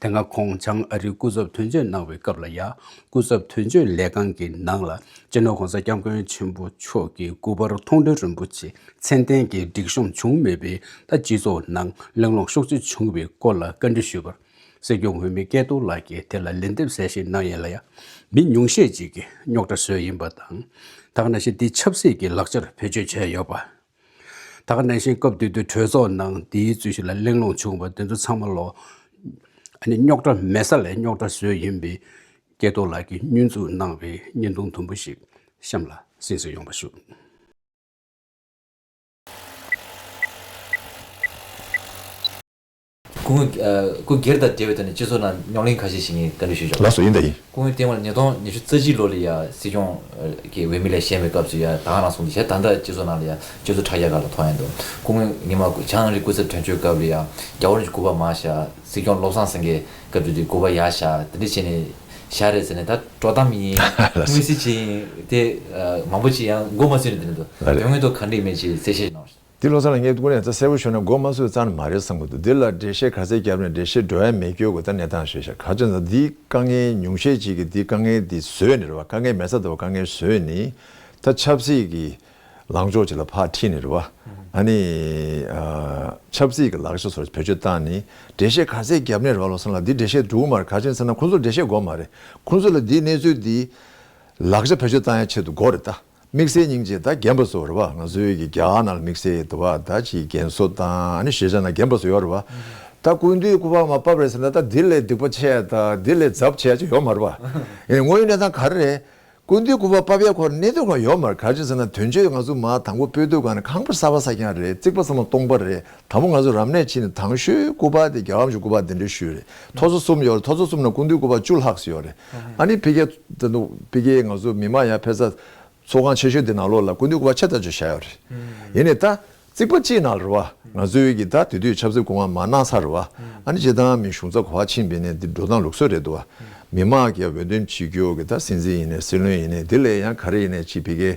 དེ་སྔ་ཁོང་བྱང་ཨ་རིའི་སྐུ་ཚབ་དོན་གཅོད་གནང་བའི་སྐབས་ལ་ཡང་སྐུ་ཚབ་དོན་གཅོད་ལས་ཁང་གི་ནང་ལ་སྤྱི་ནོར་གོང་ས་སྐྱབས་མགོན་ཆེན་པོ་མཆོག་གི་སྐུ་པར་མཐོང་གྲོལ་རིན་པོ་ཆེ་མཚན་ལྡན་གྱི་སྒྲིག་གཤོམ་བྱུང་མེད་པའི་ཐ་སྤྱི་ཚོགས་ནང་གླེང་སློང་ཤུགས་ཆེ་བྱུང་བའི་སྐོར་ལ་བཀའ་འདྲི་ཞུས་པར། སྲིད་སྐྱོང་འོས་མི་སྐལ་རྡོར་ལགས་ཀྱིས་དེ་ལ་ལན་འདེབས་གསལ་བཤད་གནང་ཡན་ལ་ཡང་མི་ཉུང་ཤས་ཅིག་གིས་རྙོག་དྲ་བཟོས་ཡིན་པ་དང། དག་ན་གཞི་འདི་ཆབ་སྲིད་ཀྱི་ལག་ཆར་བེད་སྤྱོད་བྱས་ཡོད་པ། ད་ག་ནང་བཞིན་སྐབས་དུས་དུས་གྲོས་ཚོགས་ནང་འདིའི་རྩོད་གཞི་ལ་གླེང་སློང་བྱུང་བ་དེ་ཚོ་ཚང་མ་ལོ། ཨ་ནི་རྙོག་དྲ་མེད་ས་ལས་རྙོག་དྲ་བཟོས་ཡིན་པའི་སྐལ་རྡོར་ལགས་ཀྱིས་བསྙོན་འཛུགས་གནང་བའི་བརྙན་ཐུང་དུམ་བུ་ཞིག་གཤམ་ལ་གསན་བསུ་ཡོང་བ་ཞུ། སྐུ་ངོས། སྐུ་སྒེར་དང་འབྲེལ་བའི་ཐོག་ནས་སྤྱི་ཚོགས་ནང་རྙོག་གླེང་ཁ་ཤས་ཤིག་ཡིན་བཀའ་འདྲི་ཞུ་ཆོག་ལགས་སོ་ཡིན་ད་ཡིན། སྐུ་ངོས་བསྟན་འོག་ལ་ཉིས་སྟོང་ཉི་ཤུ་རྩ་གཅིག་ལོ་ལ་ཡ་སྲིད་སྐྱོང་གི་འོས་མི་ལས་བཞེངས་པའི་སྐབས་སུ་ཡ་དྭགས་ནང་སོང་དུ་ཞལ་ཐང་འདྲ་སྤྱི་ཚོགས་ནང་ལ་ཡ་སྤྱི་ཚོགས་དྲ་རྒྱ་ག་ལ་མཐོང་ཡ་འདུག་སྐུ་ངོས་ཉི་མ་བྱང་རི་སྐུ་ཚབ་དོན་གཅོད་སྐབས་ལ་ཡ་རྒྱ་བོ་རིན་གྱི་སྐུ་པར་མ་ཞལ་སྲིད་སྐྱོང་བློ་བཟང་སེང་གེ་སྐབས་བརྒྱུད་དེ་སྐུ་པར་ཡ་ཞལ་དེ་འདྲ་བྱས་ནས་ཞལ་རེད་ཟེར་ནས་ད་དཀྲོག་གཏམ་ཡིན་དངོས་གཟིགས་བྱས་ཡིན་དེ་མང་པོ་ཅི་ཡང་མགོ་མ་ཚོས་ནས་དེ་འདྲ་འདུག་དོན་དངོས་ཐོག་ག་འགྲིག་མེད་ཅེས་གསལ་བཤད་གནང་བ་ཞིག། འདི་བློ་ཚང་ལ་བསྙད་བཀུར་ནས་རྩ་གསལ་བོ་ཤོར་ན་མགོ་མ་ཚོས་རྩ་ནི་མ་རེད་བསམ་གི་འདུག་འདི་ལ་འགྲེལ་བཤད་ག་ཚད་བརྒྱབ་ནས་འགྲེལ་བཤད་འགྲོ་ཡ་མེད་སྐྱོ་གི་ད་གནས་སྟངས་ཤེས་ཤག་ག་ཚོད་ན་འདིའི་དཀའ་ངལ་ཉུང་ཤས་ཅིག་གི་འདི་དཀའ་ངལ་འདི་བཟོས་ནི་རེད་བ་དཀའ་ངལ་མེད་ས་དེ་བ་དཀའ་ངལ་བཟོས་ནི་ད་ཆབ་སྲིད་གི་ལངས་ཕྱོགས་ཅིག་ལ་ཕག་ཁྲིད་ནི་རེད་བ་ཨ་ནི་ཆབ་སྲིད་གི་ལག་ཆ་ཚོར་བེད་སྤྱོད་བཏང་ནི་འགྲེལ་བཤད་ག་ཚད་བརྒྱབ་ནི་རེད་བ་བློ་ཚང་ལ་འདི་འགྲེལ་བཤད་འགྲིག་གི་མ་རེད་ག་ཚོད་ན་ཚེ་ན་ཁོང་ཚོར་འགྲེལ་བཤད་འགོ་མ་རེད་ཁོང་ཚོ་ལ་འདིའི་གནས་ཚུལ་འདི་ལག་ཆ་བེད་སྤྱོད་བཏང་ཡ་ཆེད་དུ་འགོ་རེད་ད། དམིགས་བསལ་སྙིང་རྗེ་དང་རྒན་པ་ཚོར་བ་ང་ཚོའི་གི་རྒྱ་ནག་ལ་དམིགས་བསལ་དུ་བ་ད་ཅི་རྒན་གསོ་དང་ཤེས་བྱ་ན་རྒན་པ་ཚོ་ཡོད་རེད་བ་ད་སྐུ་མདུན་སྐུ་པར་མ་བབས་རེད་ཟེར་ན་ད་དེ་ལས་སྡིག་པ་ཆེ་ད་དེ་ལས་རྫབ་ཆེ་ཅིག་ཡོད་མ་རེད་བ་ཨེ་དངོས་ཡོད་གནས་སྟངས་ག་རེ་རེད་སྐུ་མདུན་སྐུ་པར་བབས་ཡས་ཁོར་གནས་དོན་གང་ཡོད་མ་རེད་ག་ཅིག་ཟེར་ན་དོན་གཅོད་ང་ཚོ་མ་དང་པོ་པོད་དུ་ག་ནས་ཁང་པར་གསར་བ་ས་ཀྱང་རེད་རྩིག་པ་ཚང་མ་སྟོང་པ་རེད་དང་པོ་ང་ཚོ་རབ་གནས་ཕྱི་ནས་དང་ཤོས་སྐུ་པར་དེ་རྒྱ་གར་མཆོག་སྐུ་པར་དེ་འདྲའི་ཤོས་རེད་ཐོ་ཚོ་གསུམ་ཡོད་རེད་ཐོ་ཚོ་གསུམ་ན་ཀུན་འདུས་སྐུ་པར་བཅུ་ལྷག་སུ་ཡོད་རེད་ཨ་ནི་ཕི་གེ་ད་དུང་ཕི་གེ་ང་ཚོ་མི་མང་ཡང་ཕེ་ཚ་ཚོགས་ཁང་ཆེ་ཤོས་དེ་ནང་ལོགས་ལ་ཀུན་འདུས་སྐུ་པར་ཆེ་ད་ཅོ་བཞག་ཡོད་རེད་ཡིན་ནས་ད་རྩིག་པ་གཅིག་ནང་རུ་བ་ང་ཚོའི་གི་ད་དེ་དུས་ཆབ་སྲིད་སྐུ་དབང་མ་གནང་ས་རུ་བ་ཨ་ནི་སྤྱི་བཏང་མིན་གཞུང་ཚབ་གོ་བ་ཕྱིན་པའི་ནས་འདི་འགྲོ་སྟངས་ལུགས་སྲོལ་རེད་འདུག་བ་མི་མང་གི་འོས་འདེམས་བྱེད་རྒྱུ་གི་ད་སྲིད་འཛིན་ཡིན་ནས་སྲིད་བློན་ཡིན་ནས་དེ་ལས་ཡང་ག་རེ་ཡིན་ནས་ཕྱི་ཕི་གེ།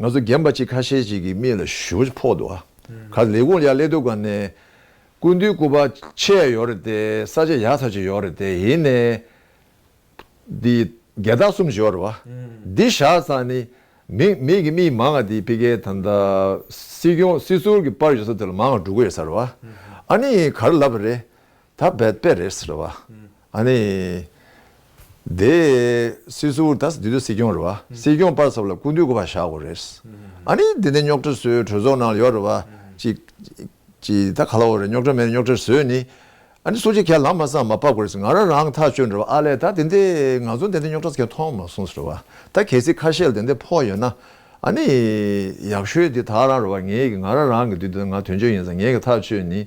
ང་ཚོ་རྒན་པ་ཅིག་ཁ་ཤས་ཅིག་གི་མིག་ལ་ཞུ་ཕོག་འདུག་ཨ་ཁ་ལས་ཁུང་ཡ་ཀླད་དུ་ག་ནས་ཀུན་དུའི་སྐུ་པར་ཆད་ཡོད་རེད་དེ་ས་ཆ་ཡག་ཚར་ཅིག་ཡོད་རེད་དེ་ཡིན་ནས་དེ་རྒྱལ་རྟགས་གསུམ་ཞིག་ཡོད་རེད་བ་འདི་བཞག་ཙང་ནི་མིག་མིག་གི་མིག་མང་ང་དེ་ཕི་ཀའི་ད་ལྟ་སྲིད་སྐྱོང་སྲིད་ཟུར་གི་པར་ཡོད་ས་དེ་ལ་མང་ང་འགྲོ་གི་ཡོད་ས་རེད་བ་ཨ་ནི་ག་རེ་ལབ་པ་རེད་ད་བེད་པས་རེད་ཟེར་བ། ཨ་ནི། དེ། སྲིད་ཟུར་དང་དེ་དུས་སྲིད་སྐྱོང་རེད་བ། སྲིད་སྐྱོང་པར་ཚབ་ལ་སྐུ་མདུན་སྐུ་པར་བཞག་དགོས་རེད། ཨ་ནི། དེ་ནས་རྙོག་དྲ་བཟོས་གྲོས་ཚོགས་ནང་ལ་ཡོད་རེད་བ། ཅིག། ཅིག་ད་ག་ལ་འོ་རེད་རྙོག་དྲ་མེད་རེད་རྙོག་དྲ་བཟོས་ནི། ཨ་ནི་སུ་ཅིག་ཁས་ལམ་མ་བསམ་མ་ཕབ་དགོས་རེད་ང་རང་རང་ཐག་ཆོད་རེད་བ་ཨ་ལས་ད་དེ་འདི་ང་ཚོ་དེ་འདི་རྙོག་དྲ་ཁས་མཐོང་མ་སོང་རེད་བ་ད་གལ་སྲིད་ཁ་ཤེལ་དེ་འདི་ཕོག་ཡོད་ན། ཨ་ནི། ཡག་ཤོས་དེ་ད་རང་རེད་བ་ངེད་ཀྱི་ང་རང་རང་གི་དུས་དེ་ང་དོན་གཅོད་ཡིན་ས་ངེད་ཀྱི་ཐག་ཆོད་ནི།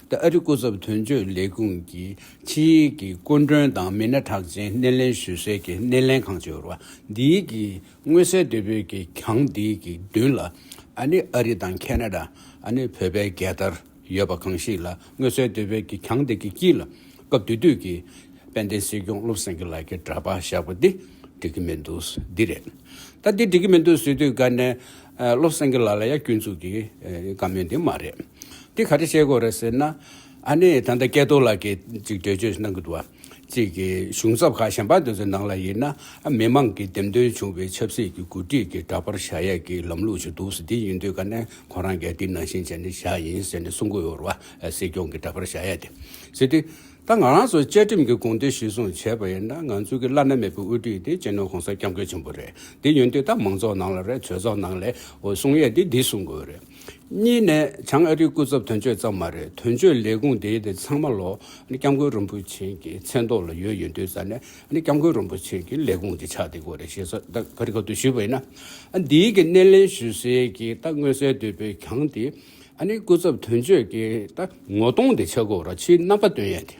ཨ་རི་སྐུ་ཚབ་དོན་གཅོད་ལས་ཁུངས་ཀྱི་ཆིངས་ཡིག་གི་སྐུ་མགྲོན་དང་མི་སྣ་གྲགས་ཅན་སྣེ་ལེན་ཞུ་སའི་གི་སྣེ་ལེན་ཁང་བཅོ་བརྒྱད་འདི་གི་མངོན་གསལ་དོད་པོའི་གི་གྱང་འདི་གི་མདུན་ལ་ཨ་ནི་ཨ་རི་དང་ཁེ་ན་ད་ཨ་ནི་བོད་པའི་རྒྱལ་དར་ཡོད་པ་གང་ཞིག་ལ་མངོན་གསལ་དོད་པོའི་གི་གྱང་འདི་གི་དཀྱིལ་ལ་སྐབས་དུས་དུས་གི་དཔལ་ལྡན་སྲིད་སྐྱོང་བློ་བཟང་གི་ལག་གི་འདྲ་པར་བཞག་པ་འདི་འགྲིག་གི་མི་འདུག་འདི་རེད་ད་འདི་འགྲིག་གི་མི་འདུག་ཟེར་དུས་དགའ་ནས་བློ་བཟང་གི་ལག་ལ་ཡ་སྐྱོན་ཚུགས་གི་དགའ་མོད་འདི་མ་རེད། འདི་ག་རེ་བཤད་དགོས་རེད་ཟེར་ན། ཨ་ནི་ད་ལྟ་སྐལ་རྡོར་ལགས་ཀྱིས་གཅིག་འགྲེལ་བརྗོད་གནང་གི་འདུག་བ། གཅིག་གི་གཞུང་ཚབ་ཁག་གཞན་པ་དེ་ཚོའི་ནང་ལ་ཡིན་ན་ཨ་མི་མང་གིས་འདེམས་ཐོན་བྱུང་བའི་ཆབ་སྲིད་ཀྱི་གོ་སྒྲིག་གི་འདྲ་པར་བཞག་ཡས་ཀྱི་ལམ་ལུགས་ཞིག་འདུག་ཟེར་དེ་ཡིན་དུས་ཀ་ནས་ཁོང་རང་གས་འདི་ནང་བཞིན་བྱས་ནས་བཞག་ཡིན་ཟེར་ནས་གསུང་གི་ཡོད་རེད་བ། སྲིད་སྐྱོང་གི་འདྲ་པར་བཞག་ཡས་དེ། ཟེར་དུས། ད་ང་རང་ཚོ་བཅའ་ཁྲིམས་ཀྱི་དགོངས་དོན་གཞིར་བཟུང་བྱས་པ་ཡིན་ན་ང་ཚོ་གི་བླ་ན་མེད་པའི་དབུ་ཁྲིད་དེ་སྤྱི་ནོར ྋགོང་ས ྋསྐྱབས་མགོན་ཆེན་པོ་རེད། དེ་ཡིན་དུས་ད་མང་ཚོགས་ནང་ལ་རེད་ཚོས་ཚོགས་ནང་ལས་གསུང་ཡས་དེ་འདི་གསུང་དགོས་རེད། གཉིས་ནས་བྱང་ཨ་རིའི་སྐུ་ཚབ་དོན་གཅོད་ཙམ་མ་རེད་དོན་གཅོད་ལས་ཁུངས་དེ་དེ་ཚང་མ་ལོ་སྐྱབས་མགོན་རིན་པོ་ཆེན་གྱི་མཚན་ཐོག་ལ་ཡོད་ཡོད་འདོད་ས་ནས་སྐྱབས་མགོན་རིན་པོ་ཆེན་གྱི་ལས་ཁུངས་དེ་ཆགས་བསྡད་དགོས་རེད་ཞེས་སོགས་ད་ག་རི་ག་ཏུ་ཞུས་པ་ཡིན་ན། འདིའི་གི་སྣེ་ལེན་ཞུ་སའི་གི་ད་མངོན་གསལ་དོད་པའི་གང་དེ་སྐུ་ཚབ་དོན་གཅོད་ཀྱི་ད་ངོ་གདོང་དེ་ཆགས་དགོས་ར་ཕྱིའི་རྣམ་པ་སྟོན་ཡས་དེ།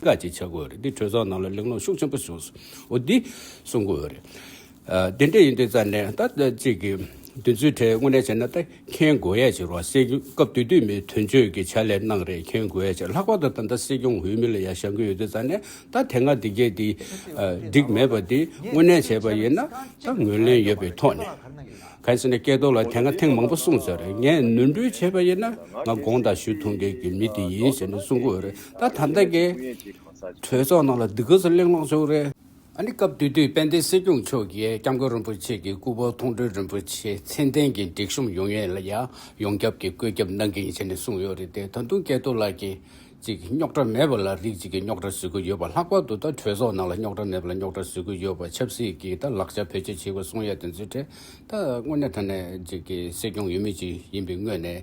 བཀའ་གཅིག་ཆགས་དགོས་རེད་དེ་གྲོས་ཚོགས་ནང་ལ་གླེང་སློང་ཤུགས་ཆེན་པོ་བྱུང་སོང་འོ་འདི་གསུང་དགོས་ཡོད་རེད། དེ་འདྲ་ཡིན་དུས་རྩ་ནས་ད་ཅིག་གི་དུས་ཚོད་ཁྲལ་དངོས་གནས་བྱས་ན་ད་མཁྱེན་དགོས་ཡས་ཆེ་རུང་སྲིད་སྐྱོང་སྐབས་དུས་དུས་མི་དོན་གཅོད་ཀྱི་ཕྱག་ལས་གནང་རེས་མཁྱེན་དགོས་ཡས་ཆེ་ལྷག་པར་དུ་ད་ལྟ་སྲིད་སྐྱོང་འོས་མི་ལ་ཡ་བཞག་གི་ཡོད་དུས་རྩ་ནས་ད་དེ་སྔ་འདི་སྐད་དེ་འགྲིག་མེད་པ་དེ་དངོས་གནས་བྱས་པ་ཡིན་ན་ད་ངོས་ལེན་ཡོད་པའི་ཐོག་ནས། གལ་སྲིད་ནས་སྐལ་རྡོར་ལ་དེ་སྔ་ཐེངས་མང་པོ་གསུང་ཟེར་རེད་ངས་ནོར་འཁྲུལ་བྱས་པ་ཡིན་ན་ང་དགོངས་དག་ཞུ་ཐུབ་མཁན་གྱི་མི་དེ་ཡིན་ཞེས་ནས་གསུང་དགོས་ཡོད་རེད། ད་ཐ་མདའ་འགའི་གྲོས་ཚོགས་ནང་ལ་སྡུག་ག་ཚོད་གླེང་སློང་བྱུང་རེད། ཨ་ནི་སྐབས་དུས་དུས་དཔལ་ལྡན་སྲིད་སྐྱོང་མཆོག་གིས་སྐྱབས་མགོན་རིན་པོ་ཆེ་གི་སྐུ་ཕོ་མཐོང་གྲོལ་རིན་པོ་ཆེ་མཚན་ལྡན་གྱི་སྒྲིག་གཤོམ་ཡོང་ཡས་ལ་ཡང་ཡོངས་ཁྱབ་ཀྱི་བཀོད་ཁྱབ་གནང་གི་ཡིན་བྱས་ནས་གསུངས་ཡོད་རེད་དེ་ད་དུང་སྐལ་རྡོར་ལགས་ཀྱིས་ཅིག་རྙོག་དྲ་མེད་པ་ལ་རིགས་གཅིག་གི་རྙོག་དྲ་བཟོས་ཀྱི་ཡོད་པ་ལྷག་པར་དུ་ད་གྲོས་ཚོགས་ནང་ལ་རྙོག་དྲ་མེད་པ་ལ་རྙོག་དྲ་བཟོས་ཀྱི་ཡོད་པ་ཆབ་སྲིད་ཀྱི་ད་ལག་ཆ་བེད་སྤྱོད་བྱེད་པ་གསུངས་ཡས་དེ་ཚོའི་གྲས་ད་དངོས་གནས་ད་ནས་ཅིག་སྲིད་སྐྱོང་ཡོད་མེད་ཅིག་ཡིན་པའི་དངོས་ནས་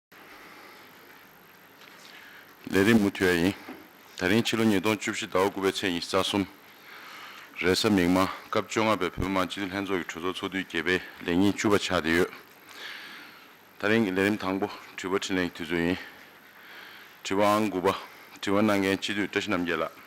ལས་རིམ་མུ་མཐུད་ཡ་ཡིན། ད་རིང་ཕྱི་ལོ་ཉིས་སྟོང་བཅུ་བཞི་ཟླ་བ་དགུ་པའི་ཚེས་ཉི་ཤུ་རྩ་གསུམ་རེས་གཟའ་མིག་དམར་སྐབས་བཅོ་ལྔ་པའི་བོད་མི་མང་སྤྱི་འཐུས་ལྷན་ཚོགས་ཀྱི་གྲོས་ཚོགས་ཚོགས་དུས་བརྒྱད་པའི་ལས་ཉིན་བཅུ་པ་ཆགས་བསྡད་ཡོད། ད་རིང་གི་ལས་རིམ་དང་པོ་དྲི་བ་འཕྲིན་ལན་གྱི་དུས་ཚོད་ཡིན། དྲི་བ་ཨང་དགུ་པ། དྲི་བ་གནང་མཁན་སྤྱི་འཐུས་བཀྲ་ཤིས་རྣམ་རྒྱལ་ལགས།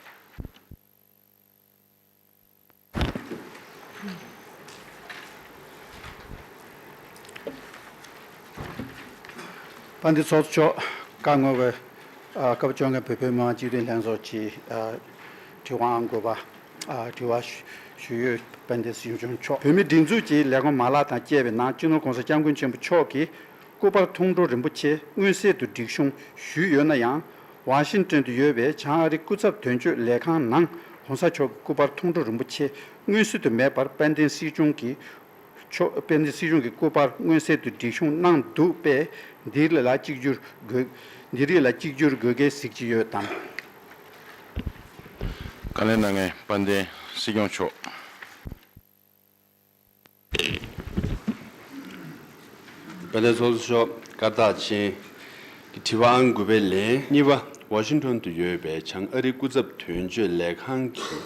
པ་འདི་ཚོགས་གཙོ་མཆོག་བཀའ་བསྔོ་བའི་སྐབས་བཅོ་ལྔའི་བོད་ཕེབས་མང་སྤྱི་འཐུས་ལྷན་ཚོགས་ཀྱི་དྲི་བའང་དགོས་པ་དྲི་བ་ཞུ་ཡོད་པ་འདི་གཞུང་མཆོག་བོད་མིའི་སྒྲིག་འཛུགས་ཀྱི་ལས་ཁུངས་མ་ལག་དང་བཅས་པའི་ནང་སྤྱི་ནོར ྋགོང་ས ྋསྐྱབས་མགོན་ཆེན་པོ་མཆོག་གིས་སྐུ་དཔར་མཐོང་གྲོལ་རིན་པོ་ཆེ་མངོན་གསལ་དུ་སྒྲིག་གཤོམ་ཞུས་ཡོད་ན་ཡང། ཝང་ཤིན་ཀྲན་དུ་ཡོད་པའི་བྱང་ཨ་རི་སྐུ་ཚབ་དོན་གཅོད་ལས་ཁང་ནང ྋགོང་ས་མཆོག་གི་སྐུ་དཔར་མཐོང་གྲོལ་རིན་པོ་ཆེ་མངོན་གསལ་དུ་མེད་པར་དཔལ་ལྡན་སྲིད་སྐྱོང་གི་སྐུ་དཔར་མངོན་གསལ་དུ་སྒྲིག་གཤོམ་གནང་འདུག་པས་འདི་རིགས་ལ་གཅིག་གྱུར་དགོས་གལ་གཟིགས་ཀྱི་ཡོད་དམ། བཀའ་ལན་གནང་མཁན་དཔལ་ལྡན་སྲིད་སྐྱོང་མཆོག། བ་ལས་ཚོགས་གཙོ་མཆོག་སྐར་རྟགས་ཅན་གྱི་དྲི་བ་ཨང་དགུ་པའི་ལན་གཉིས་པ་ཝ་ཤིང་ཐོན་དུ་ཡོད་པའི་བྱང་ཨ་རི་སྐུ་ཚབ་དོན་གཅོད་ལས་ཁང་གི་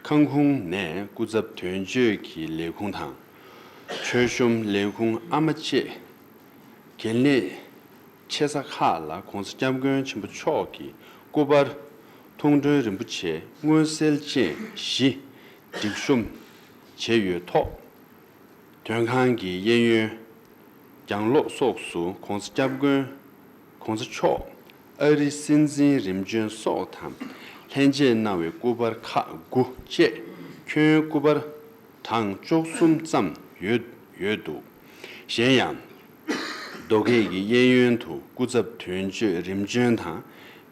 ཁང་ཁུང་ནས་སྐུ་ཚབ་དོན་གཅོད་ཀྱི་ལས་ཁུངས་དང། མཆོད་གཤོམ་ལས་ཁུངས་ཨ་མ་བཅས་གལ་གནད་ཆེ་ས་ཁག་ལ ྋགོང་ས ྋསྐྱབས་མགོན་ཆེན་པོ་མཆོག་གི་སྐུ་པར། ཐུང་མགྲོན་རིན་པོ་ཆེ་མངོན་གསལ་བཅས་བཞི། སྒྲིག་གཤོམ། བྱས་ཡོད་ཐོག། དོན་ཁང་གི་གཡས་གཡོན། གྱང་ལོགས་སོགས་སུ ྋགོང་ས ྋསྐྱབས་མགོན ྋགོང་ས་མཆོག་ཨ་རི་སྲིད་འཛིན་རིམ་བྱོན་སོགས་དང་ལྷན་མཇལ་གནང་བའི་སྐུ་པར་ཁག་དགུ་བཅས་ཁྱོན་སྐུ་པར་གྲངས་བཅུ་གསུམ་ཙམ་ཡོད་ཡོད་འདུག་གཞན་ཡང། རྡོ་སྐས་ཀྱི་གཡས་གཡོན་དུ་སྐུ་ཚབ་དོན་གཅོད་རིམ་བྱོན་དང་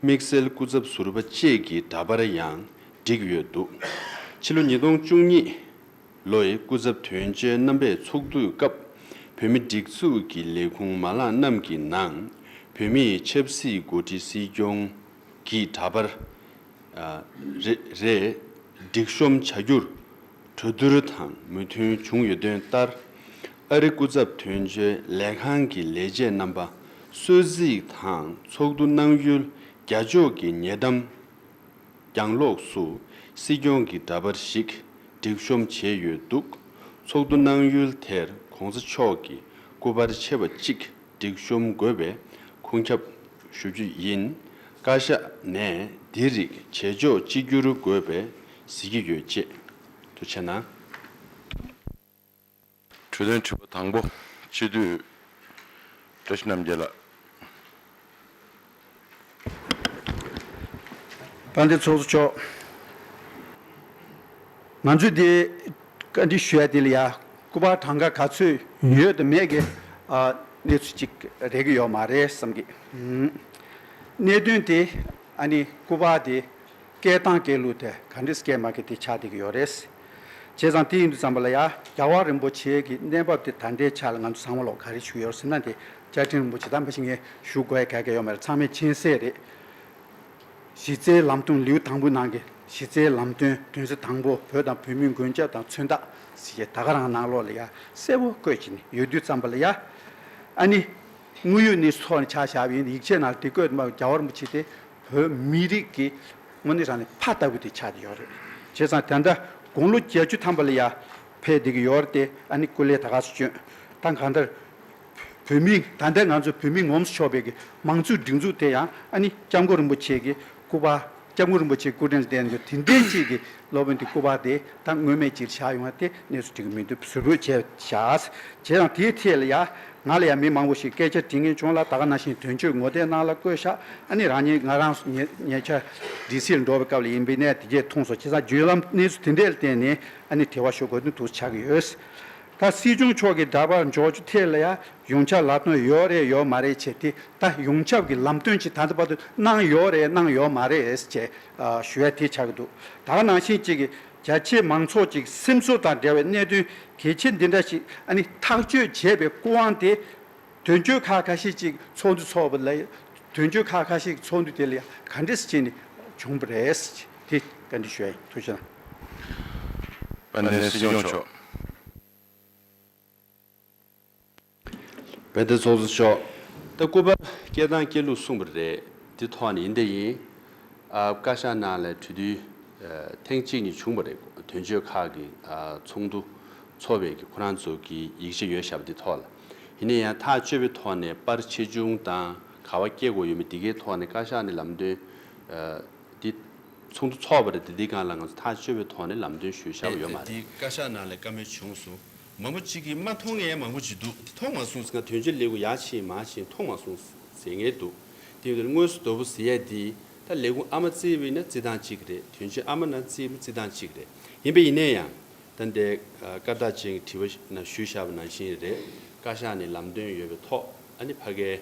དམིགས་བསལ་སྐུ་ཚབ་ཟུར་པ་བཅས་ཀྱི་འདྲ་པར་ཡང་བསྒྲིགས་ཡོད་འདུག་ཕྱི་ལོ་ཉིས་སྟོང་བཅུ་གཉིས་ལོའི་སྐུ་ཚབ་དོན་གཅོད་རྣམ་པས་ཚོགས་འདུའི་སྐབས་བོད་མི་སྒྲིག་འཛུགས་ཀྱི་ལས་ཁུངས་མ་ལག་རྣམས་ཀྱི་ནང་བོད་མིའི་ཆབ་སྲིད་མགོ་ཁྲིད་སྲིད་སྐྱོང་གི་འདྲ་པར་རེ་རེ་སྒྲིག་གཤོམ་བྱ་རྒྱུར། གྲོས་བསྡུར་དང་མོས་མཐུན་བྱུང་ཡོད་དོན་ལྟར། ཨ་རི་སྐུ་ཚབ་དོན་གཅོད་ལས་ཁང་གི་ལས་བྱེད་རྣམ་པ་གསོལ་གཟིགས་དང་ཚོགས་འདུ་གནང་ཡུལ་རྒྱ་ཕྱོགས་ཀྱི་ཉེ་འགྲམ་གྱང་ལོགས་སུ་སྲིད་སྐྱོང་གི་འདྲ་པར་ཞིག་སྒྲིག་གཤོམ་བྱས་ཡོད་འདུག་ཚོགས་འདུ་གནང་ཡུལ་དེར་གོང་ས་མཆོག་གི་སྐུ་པར་ཆེ་བ་གཅིག་སྒྲིག་གཤོམ་དགོས་པའི་ཁུངས་ཁྱབ་ཞུ་རྒྱུ་ཡིན། བཀའ་ཤག་ནས་འདི་རིགས་བྱེད་ཕྱོགས་གཅིག་གྱུར་དགོས་པའི་གཟིགས་ཀྱི་ཡོད་ཅེས་དུ་བྱས་ན། གྲོས་དོན་དྲི་བ་དང་པོ་སྤྱི་འཐུས་བཀྲ་ཤིས་རྣམ་རྒྱལ་ལགས། བཀའ་འདྲི་ཚོགས་གཙོ་མཆོག། ང་ཚོས་དེ་བཀའ་འདྲི་ཞུ་ཡ་དེ་ལ་ཡ་སྐུ་པར་གྲངས་ཀ་ག་ཚོད་ཡོད་དང་མེད་ཀྱི་གནས་ཚུལ་ཅིག་རེག་གི་ཡོད་མ་རེད་བསམ་གི། གནད་དོན་དེ་ཨ་ནི་སྐུ་པར་དེ། སྐད་དང་སྐད་ལུགས་དེ་ག་འདྲི་སྐད་མ་གི་དེ་ཆགས་བསྡད་ཀྱི་ཡོད་རེད། བྱས་ཙང་དེ་ཡིན་དུས་ཙམ་པ་ལ་ཡ་རྒྱ་བ་རིན་པོ་ཆེའི་གི་གནས་བབ་དེ་ད་ལྟའི་ཆ་ལ་ང་ཚོ་ཚང་མ་ལོག་ག་རེ་ཞུ་ཡོད་སེམས་ན་དེ་བཅའ་ཁྲིམས་རིན་པོ་ཆེ་དམ་པ་ཞིག་ངས་ཞུ་དགོས་གལ་ག་ཡོད་མ་རེད་ཚང་མས་མཁྱེན་གསལ་རེད། གཞི་རྩའི་ལམ་སྟོན་ལེའུ་དང་པོའི་ནང་གི་གཞི་རྩའི་ལམ་སྟོན་དོན་ཚན་དང་པོ་བོད་དང་བོད་མིའི་མགོན་སྐྱབས་དང་མཚོན་རྟགས་ཟེར་གྱི་ད་ག་རང་ནང་ལོག་ལ་ཡ་གསལ་བོ་བཀོད་ཀྱི་ནི་ཡོད་དུས་ཙམ་པ་ལ་ཡ། ཨ་ནི། དངོས་ཡོད་གནས་ཚུལ་ཐོག་ནས་ཆ་བཞག་པ་ཡིན་ཡིག་ཆའི་ནང་དེ་བཀོད་འདུག་མ་རྒྱ་བ་རིན་པོ་ཆེ་དེ་བོད་མི་རིགས་ཀྱི་དངོས་གནས་རང་ནས་ཕ་ལྟ་བུ་དེ་ཆགས་ཀྱི་ཡོད་རེད། བྱས་ཙང་དེ་འདྲ་དགུང་ལོ་བརྒྱད་ཅུ་ཐམ་པ་ལ་ཡར་ཕེབས་བསྡད་ཀྱི་ཡོད་རེད་དེ་ཨ་ནི་སྐུ་ལས་ད་ག་ཚོད་བསྐྱོན་ད་གང་ལྟར་བོད་མི་ད་ལྟའི་ང་ཚོ་བོད་མི་ངོམས་སུ་ཆོག་པའི་ཀྱི་མང་གཙོའི་སྒྲིག་འཛུགས་དེ་ཡང་ཨ་ནི་སྐྱབས་མགོན་རིན་པོ་ཆེ་ཀྱི་སྐུ་པར་སྐྱབས་མགོན་རིན་པོ་ཆེ་སྐུ་དྲིན་ལ་བརྟེན་འདུག་དེ་འདྲའི་ཅིག་གི་སློབ་དཔོན་དེ་སྐུ་པར་དེ་ད་དངོས་མེད་ཅིག་བཞག་ཡོང་བ་དེ་གནས་ཚུལ་འགྲིག་གི་མི་འདུག་གཟུར་བོས་བྱས་བཞག་བྱས་ཙང་དེའི་ཐད་ལ་ཡར། ང་ལ་ཡང་མི་མང་བོ་ཞིག་སྐད་ཆ་དྲིས་ངེས་བྱུང་ལ་ད་ག་ན་བཞིན་དོན་གཅོད་ངོ་དེ་གནང་ལ་བསྐོས་བཞག་ཨ་ནི་རང་ཉིད་ང་རང་སུ་ཉེ་ཉེ་ཆ་སྒྲིག་སིལ་འགྲོ་བའི་སྐབས་ལ་ཡིན་པས་གནས་དེ་གས་ཐུངས་སོ་ཁྱེད་ཚང་བརྒྱུད་ལམ་གནས་ཚུལ་དེ་འདྲས་ལ་བརྟེན་ནས་ཨ་ནི་དེ་བ་ཞུ་དགོས་དོན་དུ་ཆགས་ཡོད། ད་སྲིད་སྐྱོང་མཆོག་གིས་འདྲ་པར་འཇོག་རྒྱུ་དེ་ལ་ཡང་ཡོངས་ཁྱབ་ལམ་སྟོན་ཡོད་རེད་ཡོད་མ་རེད་བྱས་ཏེ་ད་ཡོངས་ཁྱབ་ཀྱི་ལམ་སྟོན་ཅིག་ད་ལྟ་བར་དུ་གནང་ཡོད་རེད་གནང་ཡོད་མ་རེད་ཅེས་ཞུ་ཡ་དེ་ཆགས་ཀྱི་འདུག་ད་ག་ནང་བཞིན་གཅིག་གིས་རྒྱ་ཆེའི་མང་ཚོགས་ཀྱི་སེམས་ཚོར་དང་འབྲེལ་བའི་གནད་དོན་གལ་ཆེ་འདི་འདྲ་ཞིག་ཐག་གཅོད་བྱེད་པའི་སྐུ་དབང་དེ། དོན་གཅོད་ཁག་ཁ་ཤས་ཀྱིས་ཚོགས་འདུ་འཚོགས་པ་ལས། དོན་གཅོད་ཁག་ཁ་ཤས་ཀྱིས་ཚོགས་འདུ་དེ་ལ་ག་འདྲི་ཞིག་བྱས་ནས་བྱུང་བ་རེད། དེ་ག་འདྲི་ཞུ་ཡ་ཡིན་ཐུགས་ཆེ་ལགས། པ་ནས་སྲིད་སྐྱོང་མཆོག། དཔེ་དེབ་ཚོགས་གཙོ་མཆོག་ད་སྐུ་པར་སྐྱེལ་སྟངས་སྐྱེལ་ལུགས་གསུངས་པ་རེད་དེ་ཐོག་ནས་ཡིན་དེ་ཡིན། ཨ་བཀའ་ཤག་ནང་ལས་གྲོས་བསྡུར་ཐེངས་གཅིག་གཉིས་བྱུང་པ་རེད་དོན་གཅོད་ཁག་གི་ཚོགས་འདུ་ཚོགས་པའི་གི་ཁོ་རང་ཚོ་གི་ཡིག་ཆ་ཡོད་ཞབས་པ་དེ་ཐོག་ལ་ཡིན་ནས་ཡང་ཐག་གཅོད་པའི་ཐོག་ནས་པར་ཆེ་ཆུང་དང་ག་བ་སྐྱེལ་དགོས་ཡོད་མེད་དེ་གའི་ཐོག་ནས་བཀའ་ཤག་ནས་ལམ་སྟོན་དེ་ཚོགས་འདུ་ཚོགས་པ་རེད་དེ་དེ་གང་ལ་ང་ཚོ་ཐག་གཅོད་པའི་ཐོག་ནས་ལམ་སྟོན་ཞུ་ཞབས་པ་ཡོད་མ་རེད། དེ་བཀའ་ཤག་ནང་ལས་བཀའ་མོལ་བྱུང་སོང་མང་པོ་གཅིག་གིས་མ་མཐོང་ངས་མང་པོ་ཅིག་འདུག་མཐོང་མ་སོང། ང་དོན་གཅོད་ལེགས་པོ་ཡག་ཆེས་མ་བྱས་མཐོང་མ་སོང་ཟེར་ངེས་འདུག་དེ་བས་དངོས་སུ་དོ་བོ་ཟེར་ཡས་འདི་ད་ལས་ཁུང་ཨ་མ་བརྩེ་བས་ན་བརྩེ་སྟངས་གཅིག་རེད་དོན་གཅོད་ཨ་མ་ན་བརྩེ་བས་བརྩེ་སྟངས་གཅིག་རེད་ཡིན་པས་ཡིན་ནས་ཡང་ད་འདས་སྐར་རྟགས་ཅན་གྱི་དྲི་བ་ན་ཞུ་བཞག་པ་ནང་བཞིན་རེད་བཀའ་ཤག་ནས་ལམ་སྟོན་ཡོད་པའི་ཐོག་ཨ་ནི་ཕ་གའི་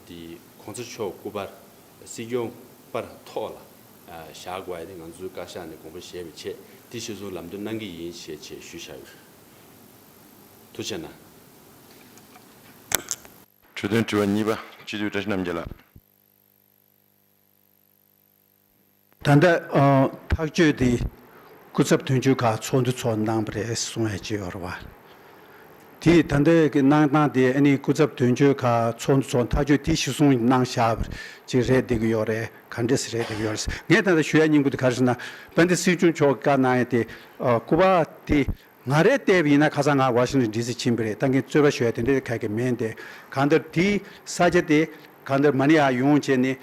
འདི་གོང་ཚ་མཆོག་སྐུ་པར། སྲིད་སྐྱོང་པར་ཐོག་ལ་བཞག་དགོས་པ་དེ་ང་ཚོའི་བཀའ་ཤག་ནས་དགོངས་པ་བཞེས་པའི་ཆེད་དེ་གཞིར་བཟུང་ལམ་སྟོན་གནང་གི་ཡིན་ཞེས་ཆེད་ཞུ་བཞག་ཡོད། དུ་བྱས་ན། འཕྲོས་དོན་དྲི་བ་གཉིས་པ་སྤྱི་འཐུས་བཀྲ་ཤིས་རྣམ་རྒྱལ་ལགས། ད་ལྟ་ཐག་གཅོད་དེ་སྐུ་ཚབ་དོན་གཅོད་ཁག་ཚོགས་འདུ་ཚོགས་གནང་པ་རེད་གསུང་ཡ་ཅི་ཡོད་རེད། དེ་ད་ལྟ་གི་གནང་སྟངས་དེ་ཨ་ནི་སྐུ་ཚབ་དོན་གཅོད་ཁག་ཚོགས་འདུ་ཚོགས་ཐག་གཅོད་དེ་གཞི་སྲུང་གནང་བཞག་པ་ཅིག་རེད་བསྡད་ཀྱི་ཡོད་རེད་ག་འདྲ་སི་རེད་བསྡད་ཀྱི་ཡོད་རེད། ངས་ད་ལྟ་ཞུ་ཡ་སྙིང་པོ་དེ་ག་རེ་ཟེར་ན་དཔལ་ལྡན་སྲིད་སྐྱོང་མཆོག་གིས་བཀའ་གནང་ཡ་དེ་སྐུ་པར་དེ་ང་རེ་ལྟས་ཡིན་ན་ཁ་སང་ང Washington DC ཕྱིན་པ་རེད་ད་མཁན་རྩོད་པ་ཞོལ་དེ་འདྲ་རེ་ག་གི་མེད་འདས་གང་ལྟར་དེའི་ས་ཆ་དེ་གང་ལྟར་མ་ནི་ཡ་ཡོང་བྱས་ནས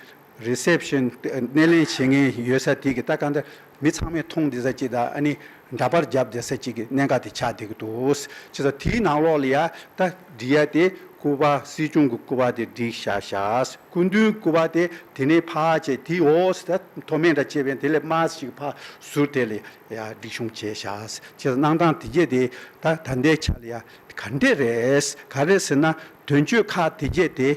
Reception སྣེ་ལེན་བྱེད་མཁན་ཡོད་ས་དེ་གི་ད་གང་ལྟར་མི་ཚང་མས་མཐོང་བདེ་ས་ཅིག་དང་ཨ་ནི་འདྲ་པར་རྒྱབ་བདེ་ས་ཅིག་གི་གནད་འགག་དེ་ཆགས་བསྡད་ཀི་འདུག་བྱས་ཙང་དེའི་ནང་ལོགས་ལ་ཡ་ད་འགྲིག་ཡ་དེ་སྐུ་པར་སྲིད་སྐྱོང་གི་སྐུ་པར་དེ་འགྲིག་བཞག་བཞག་སྐུ་མདུན་སྐུ་པར་དེ་དེ་ནས་ཕག་བྱས་དེའི་འོག་ས་མཐོ་དམན་འདྲ་བྱས་པས་དེ་ལས་དམའ་ས་ཅིག་གི་ཕག་ཟུར་དེ་ལས་ཡ་སྒྲིག་ཆུང་བྱས་བཞག་ཅེས་གནང་སྟངས་དེ་རྒྱས་དེ་ད་ད་ལྟའི་ཆ་ལ་ཡ་ག་འདྲས་རེད། ག་རེད་ཟེར་ན་དོན་གཅོད་ཁག་དེ་རྒྱས་དེ་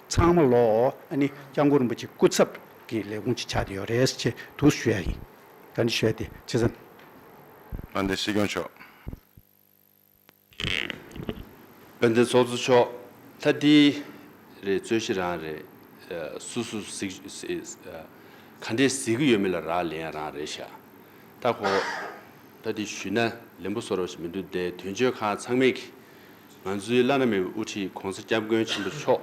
ཚང་མ་ལོ་ཨ་ནི་སྐྱབས་མགོན་རིན་པོ་ཆེ་སྐུ་ཚབ་ཀྱི་ལས་ཁུངས་ཀྱི་ཆ་དེ་ཡོད་རེད་ཅེས་དུ་ཞུ་ཡ་ཡིན། ག་འདྲས་ཞུ་ཡ་དེ་བྱས་ཙང། ཨ་འདི་སྲིད་སྐྱོང་མཆོག། དཔལ་ལྡན་ཚོགས་གཙོ་མཆོག་ད་འདི་རེད་རྩོད་གཞི་རང་རེད་སུ་སུ་ག་འདྲས་གཟིགས་ཀྱི་ཡོད་མེད་ལ་རག་ལན་རང་རེད་ཤ་སྟག་ཁོ་ད་འདི་ཞུས་ན་ལན་པོ་བཟོ་རོགས་ཞིག་མི་འདུག་འདའི་དོན་གཅོད་ཁང་ཚང་མེད་གི་ང་ཚོའི་བླ་ན་མེད་པའི་དབུ་ཁྲིད་གོང་ས་སྐྱབས་མགོན་ཆེན་པོ་མཆོག་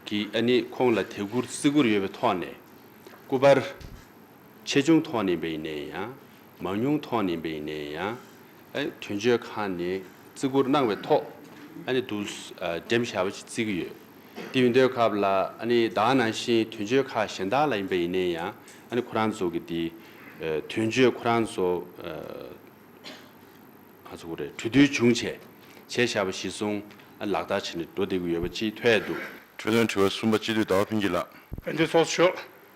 གིས་ཨ་ནི་ཁོང་ལ་དད་བཀུར་བརྩི་བཀུར་ཡོད་པའི་ཐོག་ནས་སྐུ་པར། ཆེ་ཆུང་ཐོག་ནས་བས་ནས་ཡང། མང་ཉུང་ཐོག་ནས་བས་ནས་ཡང། དོན་བརྗོད་ཁང་ནས་བརྩི་བཀུར་གནང་བའི་ཐོག ྋགྲེམས་ཞྭ་བ་ཞིག་བརྩིགས་ཀྱི་ཡོད། དེ་ཡོད་འདོད་སྐབས་ལ ྋདང་ནང་བཞིན་དོན་བརྗོད་ཁག་གཞན་དག་ལ་ཡིན་པ་ཡིན་ནས་ཡང ྋཁོ་རང་ཚོ་གི་དེ་དོན་བརྗོད་ཁོ་རང་ཚོ་གྲོས་བསྡུར་བྱུང་བྱས་བྱས་ཞྭ་བ་གཞི་བཟུང ྋལག་བསྟར་བྱས་ནས་འགྲོ་བསྡད་ཀྱི་ཡོད་པ་གཅིག་ཐོས་འདུག། གྲོས་དོན་དྲི་བ་གསུམ་པ་སྤྱི་འཐུས་ཟླ་བ་ཕུན་སྐྱིད་ལགས། བསྟན་འཛིན་ཚོགས་གཞོན་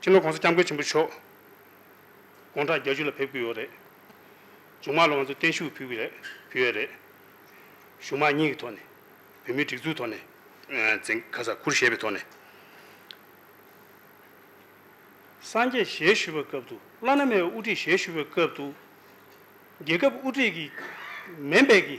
ཕྱི་ལོ་གོང་ས་སྐྱབས་མགོན་ཆེན་པོ་མཆོག་དགུང་གྲངས་བརྒྱད་ཅུ་ལ་ཕེབས་ཀྱི་ཡོད་རེད། མཇུག་མ་ལོ་ང་ཚོ་བརྟན་བཞུགས་ཕུལ་གྱི་རེད་ཕུལ་ཡས་རེད། གཞུང་དམངས་གཉིས་ཀྱི་ཐོག་ནས་བོད་མིའི་སྒྲིག་འཛུགས་ཐོག་ནས། འཛིན་ཁ་ས་ཁུར་བཞེས་པའི་ཐོག་ནས། སངས་རྒྱས་ཞལ་བཞུས་པའི་སྐབས་དུ་བླ་ན་མེད་པའི་དབུ་ཁྲིད་ཞལ་བཞུས་པའི་སྐབས་དུ། རྒྱལ་ཁབ་དབུ་ཁྲིད་ཀྱི་མེ་འབད་ཀྱི་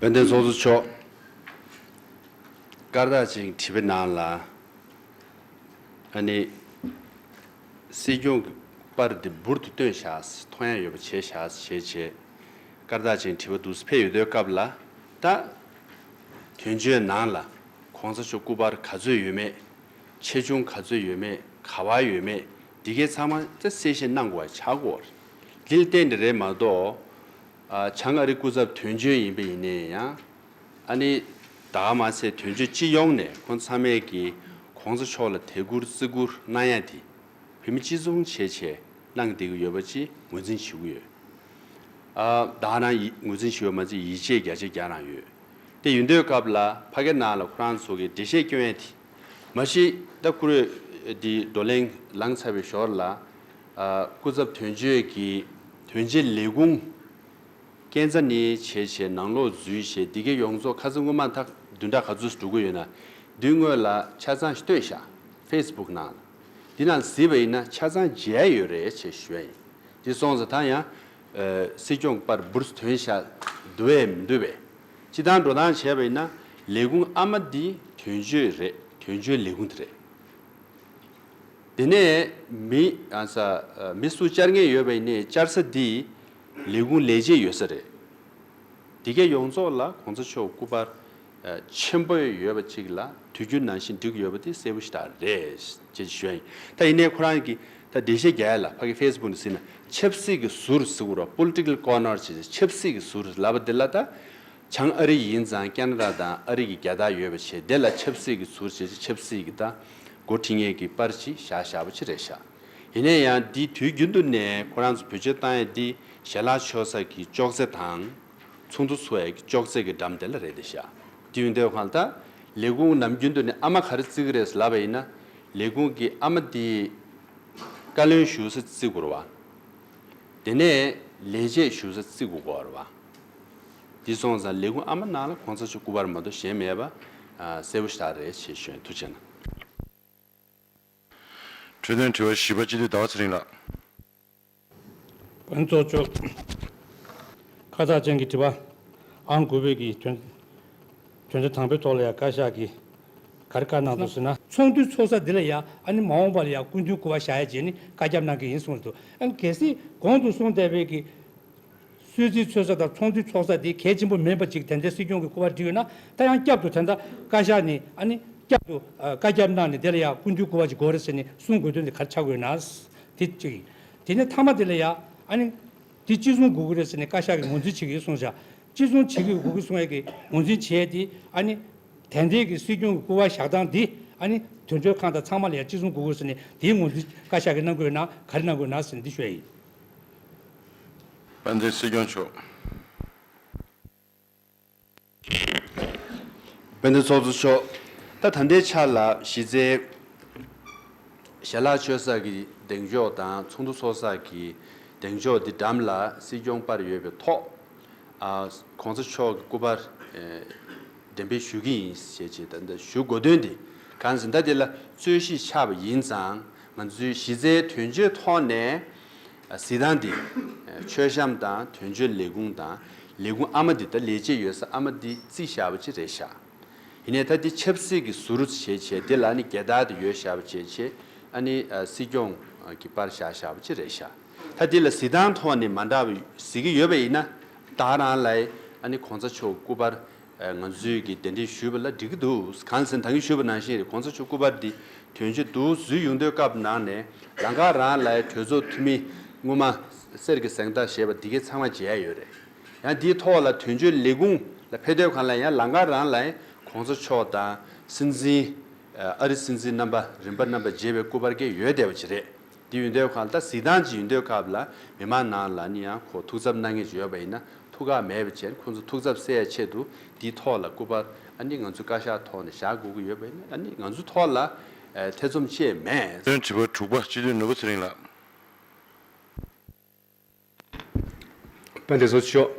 དཔལ་ལྡན་ཚོགས་གཙོ་མཆོག་སྐར་རྟགས་ཅིག་བྲིས་པའི་ནང་ལ་ཨ་ནི། སྲིད་སྐྱོང་གི་པར་འདི་འབུར་དུ་བཏོན་བཞག་མཐོང་ཡ་ཡོད་པ་བྱས་བཞག་ཞེས་བྱས་སྐར་རྟགས་ཅིག་བྲིས་པ་འདུག་སི་ཕེ་ཡོད་དོའི་སྐབས་ལ་ད། དོན་གཅོད་ནང་ལ་གོང་ས་མཆོག་སྐུ་པར་ག་ཚོད་ཡོད་མེད། ཆེ་ཆུང་ག་ཚོད་ཡོད་མེད་ག་བར་ཡོད་མེད་འདི་གའི་ཚང་མ་ད་གསལ་བཤད་གནང་དགོས་བ་ཆགས་དགོས་བ་རེད། དེ་ལ་བརྟེན་ནས་རེད་མ་གཏོགས། བྱང་ཨ་རི་སྐུ་ཚབ་དོན་གཅོད་ཡིན་པ་ཡིན་ནའི་ཡང། ཨ་ནི་ད་ག་མ་ཚད་དོན་གཅོད་སྤྱི་ཡོངས་ནས་ཁོང་ཚང་མས་ཀྱི་གོང་ས་མཆོག་ལ་དད་བཀུར་བརྩི་བཀུར་གནང་ཡ་དེ་བོད་མི་སྤྱི་མཚུངས་བྱས་བྱས་གནང་བསྡད་ཀྱི་ཡོད་པ་ཅི་ངོས་འཛིན་བྱེད་ཀྱི་ཡོད། བདག་ནང་ཡི་ངོས་འཛིན་བྱེད་ཡོད་མ་ཚད་ཡིད་ཆེས་རྒྱ་ཆེ་རྒྱག་རང་ཡོད། དེ་ཡོད་འདོད་སྐབས་ལ་ཕ་གི་ནང་ལ་ཁོ་རང་ཚོ་གི་འགྲེལ་བཤད་བསྐྱོན་ཡ་དེ། མ་གཞི་ད་བཀུར་འོས་འདི་བགྲོ་གླེང་ལངས་ཚར་བའི་ཞོར་ལ། སྐུ་ཚབ་དོན་གཅོད་ཀྱི་དོན་བྱེད་ལས་ཁུངས། རྐྱེན་རྩ་ནི་བྱས་བྱས་ནང་ལོག་འཛུལ་ཞེས་འདི་གའི་ཡོངས་རྫོགས་ཁ་ཚ་དངུལ་མང་ཐག་བདུན་ཕྲག་ག་ཚོད་སུ་འགྲོ་གི་ཡོད་ན་བདུན་དངོས་ལ་ཆ་ཚང་ཤྟོད་བཞག Facebook ནང་ལ། འདི་ནང་གཟིགས་པ་ཡིན་ན་ཆ་ཚང་མཇལ་ཡོད་རེད་ཅེས་ཞོད་ཡིན་འདི་སོང་ཟ་ད་ཡང་སྲིད་སྐྱོང་པར་འབུར་བཟོ་དོན་བཞག་འདུལ་བས་མི་འདུལ་བས། སྤྱི་དང་འགྲོ་སྟངས་བྱས་པ་ཡིན་ན་ལས་ཁུངས་ཨ་མ་འདི་དོན་གཅོད་རེད་དོན་གཅོད་ལས་ཁུངས་དེ་རེད། དེ་ནས་མི་ཨ་ས་མི་སུ་བཅར་ངེས་ཡོད་པ་ཡིན་ནས་བཅར་ས་འདི་ལས་ཁུངས་ལས་བྱེད་ཡོད་ས་རེད། འདི་ག་ཡོངས་རྫོགས་ལ་གོང་ས་མཆོག་སྐུ་པར། ཆེན་པོ་ཡོད་པ་ཅིག་ལ་དུས་རྒྱུན་ནང་བཞིན་འགྲིག་ཡོད་པ་དེ་གསལ་པོ་ཞིག་དག་རེད། ཅེས་ཞུ་ཡ་ཡིན། ད་ཡིན་ནའི་ཁོ་རང་གིས་ད་བདེ་གཤེགས་རྒྱ་ཡེ་ལ་ཕ་གི Facebook ནས་ཟིན་ན་ཆབ་སྲིད་ཀྱི་ཟུར་ཟི་བོར་བ Political Corner ཅེས་ཆབ་སྲིད་ཀྱི་ཟུར་ལབ་པ་དེ་ལ་ད་བྱང་ཨ་རི་ཡིན་ཙང་ཀ་ན་ར་དང་ཨ་རི་གི་རྒྱ་དག་ཡོད་པ་བྱས་དེ་ལ་ཆབ་སྲིད་ཀྱི་ཟུར་ཅེས་ཆབ་སྲིད་ཀྱི་ད་མགོ་ཁྲིད་ངེས་ཀྱི་པར་ཅིག་བཞག་བཞག་པོ་ཅི་རེད་བཞག་ཡིན་ནའི་ཡང་འདི་དུས་རྒྱུན་དུ་ནས་ཁོ་རང་ཚོ་བོད་ཆོས་གཏང་ཡ་འདི་ཞལ་ལག་ཆོས་ས་ཀྱི་ཅོག་ཙེ་དང། ཚོགས་འདུ་འཚོགས་ཡས་ཀྱི་ཅོག་ཙེ་གི་འགྲམ་དེ་ལ་རེད་དེ་བཞག་དེ་ཡོད་འདོད་གང་ད་ལས་ཁུངས་ནམ་རྒྱུན་དུ་ནས་ཨ་མ་ག་རེ་བརྩི་གི་རེད་ལབ་པ་ཡིན་ན་ལས་ཁུངས་ཀྱི་ཨ་མ་དེ་བཀའ་བློན་ཞུ་ས་བརྩི་དགོས་ར་བ་དེ་ནས་ལས་བྱེད་ཞུ་ས་བརྩི་དགོས་གོ་ར་བ་དེ་སོང་ཙང་ལས་ཁུངས་ཨ་མ་ནང་ལ་གོང་ཚ་ཆུ་སྐུ་བར་མ་གཏོགས་གཞན་མེད་པ་གསལ་པོ་ཞག་རེད་ཆེ་ཞོན་ཐུགས་ཆེ་གནང། འཕྲོས་དོན་དྲི་བ་བཞི་པ་སྤྱི་འཐུས་ཟླ་བ་ཚེ་རིང་ལགས། བོན་གཙོ་ཅོག་ཁ་བཏགས་ཅན་གྱི་བྲིས་པ་ཨང་དགུ་བོད་ཀྱི་དོན་བྱ་དང་པོའི་ཐོག་ལ་ཡང་བཀའ་ཤག་གིས་ག་རེ་བཀའ་གནང་འདུག་ཟེར་ན། ཚོགས་འདུའི་ཚོགས་ས་འདི་ལ་ཡང་ཨ་ནི་མ་འོངས་པ་ལ་ཡང་སྐུ་མདུན་བསྐོ་བ་བཞག་ཡ་རྗེས་ནས་བཀའ་རྒྱ་བསྣང་གི་ཡིན་གསུངས་འདུག་གལ་སྲིད་གོང་དུ་གསུངས་བསྡད་བོད་ཀྱི་གསོལ་ཚིགས་འཚོལ་ས་དང་ཚོགས་འདུའི་ཚོགས་ས་དེ་གལ་ཆེན་པོ་མིན་པ་ཅིག་དེ་འདྲའི་སྲིད་སྐྱོང་གི་སྐུ་པར་འབྲི་ཡོད་ན་ད་ཡང་བསྐྱར་དུ་དེ་འདྲ་བཀའ་ཤག་ནས་ཨ་ནི་བསྐྱར་དུ་བཀའ་རྒྱ་གནང་ནས་དེ་ལ་ཡང་སྐུ་འདུས་སྐུ་བ་ཅིག་དགོས་རེད་ཟེར་ནས་གསུང་དགོས་དོན་དེ་གར་ཆགས་དགོས་ཡོད་ན། དེ་གཅིག་ཡིན། དེ་ནས་ཐ་མ་དེ་ལ་ཡང་ཨ་ནི། དེ་ཅི་གསུང་དགོས་ཀྱི་རེད་ཟེར་ནས་བཀའ་ཤག་གིས་ངོས་འཛིན་བྱེད་ཀྱི་ཡོད་གསུང་བཞག་ཅི་གསུང་བྱེད་ཀྱི་དགོས་ཀྱི་གསུང་ཡས་ཀྱི་ངོས་འཛིན་བྱེད་ཡས་དེ་ཨ་ནི། དེ་འདྲའི་གི་སྲིད་སྐྱོང་གི་སྐུ་བ་བཞག་སྟངས་དེ་ཨ་ནི། དོན་གྲོས་ཁང་དང་ཚང་མ་ལ་ཡང་ཅི་གསུང་དགོས་དགོས་ཟེར་ནས་དེའི་ངོས་འཛིན་བཀའ་ཤག་གིས་གནང་དགོས་ཡོད་ན་ག་རེ་གནང་དགོས་ཡོད་ན་ཟེར་ནས་འདི་ཤོད་ཡས་ཡིན། བསྟན་འཛིན་སྲིད་སྐྱོང་མཆོག་དཔལ་ལྡན་ཚོགས་གཙོ་མཆོག་ད་ད་ལྟའི་ཆར་ལ་གཞི་རྩའི་ཞལ་ལག་མཆོད་གསར་གྱི་གདེང་འཇོག་དང་ཚོགས་འདུ་ཚོགས་གསར་གྱི་གདེང་འཇོག་འདི་འགྲམ་ལ་སྲིད་སྐྱོང་པར་ཡོད་པའི་ཐོག ྋགོང་ས་མཆོག་གི་སྐུ་པར་འགྲེམས་སྤེལ་ཞུ་གི་ཡིན་ཞེས་ཞུ་དགོས་དོན་དེ་གང་ཟིན་ད་དེ་ལ་རྩོད་གཞི་ཆགས་པ་ཡིན་ཙང་ང་ཚོའི་གཞི་རྩའི་དོན་བརྗོད་ཐོག་ནས་གཟི་དང་འདི། མཆོད་བཤམས་དང་དོན་བརྗོད་ལས་ཁུངས་དང་ལས་ཁུངས་ཨ་མ་འདི་ད་ལས་བྱེད་ཡོད་ས་ཨ་མ་འདི་རྩིས་ཞྭ་བ་ཆེ་རེད་ཤག་ཡིན་ནས་ད་འདི་ཆབ་སྲིད་ཀྱི་ཟུར་རུ་བྱེད་བྱེད་འདི་ལ་ནི་རྒྱལ་དར་དེ་ཡོད་ཞྭ་བ་བྱེད་བྱེད་ཨ་ནི་སྲིད་སྐྱོང་གི་པར་བཞག་ཞྭ་བ་ཆེ་རེད་ཤག་ད་འདི་ལ་གཟི་དང་ཐོག་ནས་མ་འདྲ་བ་གཟིགས་ཀྱི་ཡོད་པ་ཡིན་ན་ད་རང་ལའི་ཨ་ནི་གོང་ཚ་མཆོག་སྐུ་པར་ང་ཚོས་ཀྱིས་དེ་འདྲས་ཞུས་པ་ལ་འགྲིག་གི་འདུག་གངས་སེང་ད་གིན་ཞུས་པ་ནང་བཞིན་གོང་ས་མཆོག་སྐུ་པར་འདི་དོན་གཅོད་འདུག་གཟུད་ཡོང་དོན་སྐབས་ནང་ནས་ལ་འགག་རང་ལའི་གྲོས་ཚོགས་འཐུས་མི་སྔོན་མ་གསེར་གྱི་གཟེངས་རྟགས་ཞེས་པ་འདི་གའི་ཚང་མ་མཇལ་ཡོད་རེད་ཡང་འདིའི་ཐོག་ལ་དོན་གཅོད་ལས་ཁུངས་ལ་ཕེབས་དོན་གང་ལ་ཡང་ལ་འགག་རང་ལའི་གོང་ས་མཆོག་དང་སྲིད་འཛིན་ཨ་རི་སྲིད་འཛིན་རྣམ་པ་རིམ་པ་རྣམ་པ་མཇལ་བའི་སྐུ་པར་འགའ་ཡོད་བསྡད་པ་ཅི་རེད། འདི་ཡོད་འདོད་ཁང་ལྟ་གཟིགས་སྟངས་ཅིག་ཡོད་འདོད་སྐབས་ལ་མི་མང་ནང་ལ་ནི་ཡང་ཁོ་ཐུགས་འཚབ་གནང་ངེས་ཅིག་ཡོད་པ་ཡིན་ན་ཐུགས་ཁག་མེད་པའི་ཕྱིར་ཁོང་ཚོ་ཐུགས་འཚབ་སེལ་ཆེད་དུ་འདིའི་ཐོག་ལ་སྐུ་པར་ཨ་ནི་ང་ཚོའི་བཀའ་ཤག་ཐོག་ནས་བཞག་དགོས་ཀྱི་ཡོད་པ་ཡིན་ན་ཨ་ནི་ང་ཚོའི་ཐོག་ལ་ཐེ་ཚོམ་བཅས་མེད། དོན་དྲི་བ་དྲུག་པ་སྤྱི་འཐུས་ནོར་བུ་ཚེ་རིང་ལགས། པཎ ྋགོང་ས་མཆོག་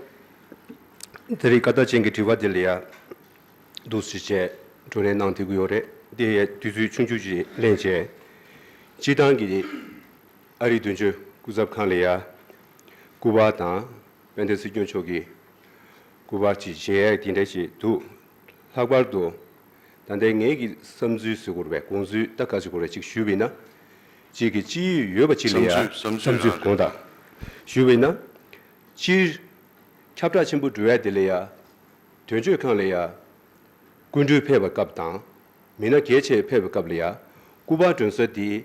དེ་རིང་ཀ་རྟགས་ཅན་གྱི་དྲི་བ་འདི་ལ་ཡ་མདོ་བཞི་ཅན་བགྲོ་གླེང་གནང་ཐུབ་ཀྱི་ཡོད་རེད་དེ་ཡི་དུས་ཚོད་ཆུང་ཆུང་ཞིག་ལེན་བྱས། སྤྱིར་བཏང་གི་ཨ་རིའི་དོན་གཅོད་སྐུ་ཚབ་ཁང་ལས་ཡ་སྐུ་པར་དང་པཎ ྋསྲིད་སྐྱོང་མཆོག་གི་སྐུ་པར་གྱི་གཞས་ཡག་དེ་འདྲ་ཞིག་འདུག་ལྷག་པར་དུ་ད་ལྟའི་ངེད་ཀྱི་བསམ་ཚུལ་གཟིགས་དགོས་པའི་དགོངས་ཚུལ་ལྟ་ག་ཚོད་དགོས་རེད་ཅིག་ཞུས་བས་ན། གཅིག་གིས་ཅི་ཡོད་ཡོད་པ་ཅིག་ལ་ཡང་བསམ་ཚུལ་དགོངས་དག་ཞུ་བས་ན། སྤྱིར། ཁྱབ་བསྒྲགས་ཆེན་པོ་འབྲུ་ཡལ་དེ་ལ་ཡལ། དོན་གཅོད་ཁང་ལ་ཡལ། སྐུ་མགྲོན་ཕེབས་པའི་སྐབས་དང། མི་སྣ་གལ་ཆེ་ཕེབས་པའི་སྐབས་ལ་ཡལ། སྐུ་པར་སྒྲོན་གསར་དེའི་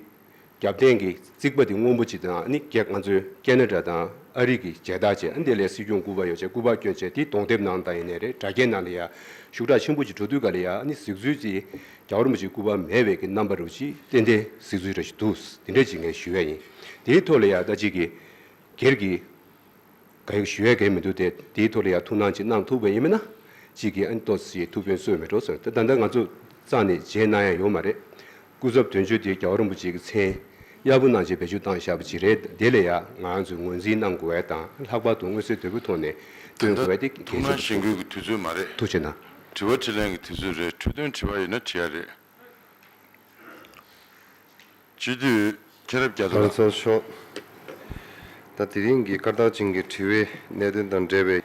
རྒྱབ་རྟེན་གྱི་རྩིག་པ་དེ་སྔོན་པོ་ཅིག་དང་ནི་གེགས་ང་ཚོའི་ཀེ་ན་ཏྲ་དང་ཨ་རིག་གི་མཇལ་དར་བྱས་དེ་ལས་སྲིད་སྐྱོང་སྐུ་པར་ཡོ་བྱད་སྐུ་པར་བསྐྱོན་བྱས་དེ་གདོང་དེབ་ནང་དང་ཡེ་ནས་རེད་དྲ་རྒྱའི་ནང་ལ་ཡལ། ཤུགས་དྲག་ཆེན་པོ་ཅིག་འགྲོ་དུས་ག་ལ་ཡལ་ནི་གཟིགས་ཚུལ་གྱི། རྒྱ་གར་མི་ཆོས་སྐུར་པ་མེད་བས་ཀྱི་རྣམ་པ་རེ་བ་ཅིག་ཏན་ཏན་གཟིགས་ཚུལ་རེ་ཞིག་འདུག་དེ་འདྲའི་ཅིག་ངས་ཞུ་ཡས་ཡིན། དེའི་ཐོག་ལ་ཡང་ལྟ་ཅིག་གིས། སྒེར་གྱི། ག་ཡོད་ཞུ་ཡས་གས་མི་འདུག་སྟེ་དེའི་ཐོག་ལ་ཡང་ཐུགས་སྣང་ཅིག་གནང་ཐུབ་བས་ཡིན་མིན་ན། ཅིག་གིས་ཨ་ནི་ཏོག་སི་ཐུགས་ཕན་གསོས་མི་འགྲོ་ཟེར་ན་ད་ལྟ་ང་ཚོ་ཙང་ནས་མཇལ་གནང་ཡ་ཡོད་མ་རེད། སྐུ་ཚབ་དོན་གཅོད་དེ་རྒྱ་གར་མི་ཅིག་གི་མཚན། གཡར་པོ་གནང་ཆེད་བེད་སྤྱོད་བཏང་བཞག་པ་ཅིག་རེད་དེ་ལ་ཡང་ང་ཚོས་ངོས་འཛིན་གནང་དགོས་བས་དང་ལྷག་པར་དུ་མངོན་གསལ་དོད་པོའི་ཐོག་ནས་སྟོན་དགོས་བས་ཏེ་གལ་ཆེན་པོ་ཐུགས། ཐུགས་ཆེ་ན། དྲི་བ་དྲིས་ལན་གྱི་དུས་ཚོད་རེད་འཕྲོས་དོན་དྲི་བ་ཡོད་ན་དྲི་ཡ་རེད། སྤྱི་འཐུས་མཁྱེན་རབ་རྒྱ་མཚོ་ལགས། ཚོགས་གཞོན་མཆོག། ད་དེ་རིང་གི་སྐར་རྟགས་ཅན་གྱི་དྲི་བའི་གནད་དོན་དང་འབྲེལ་བའི་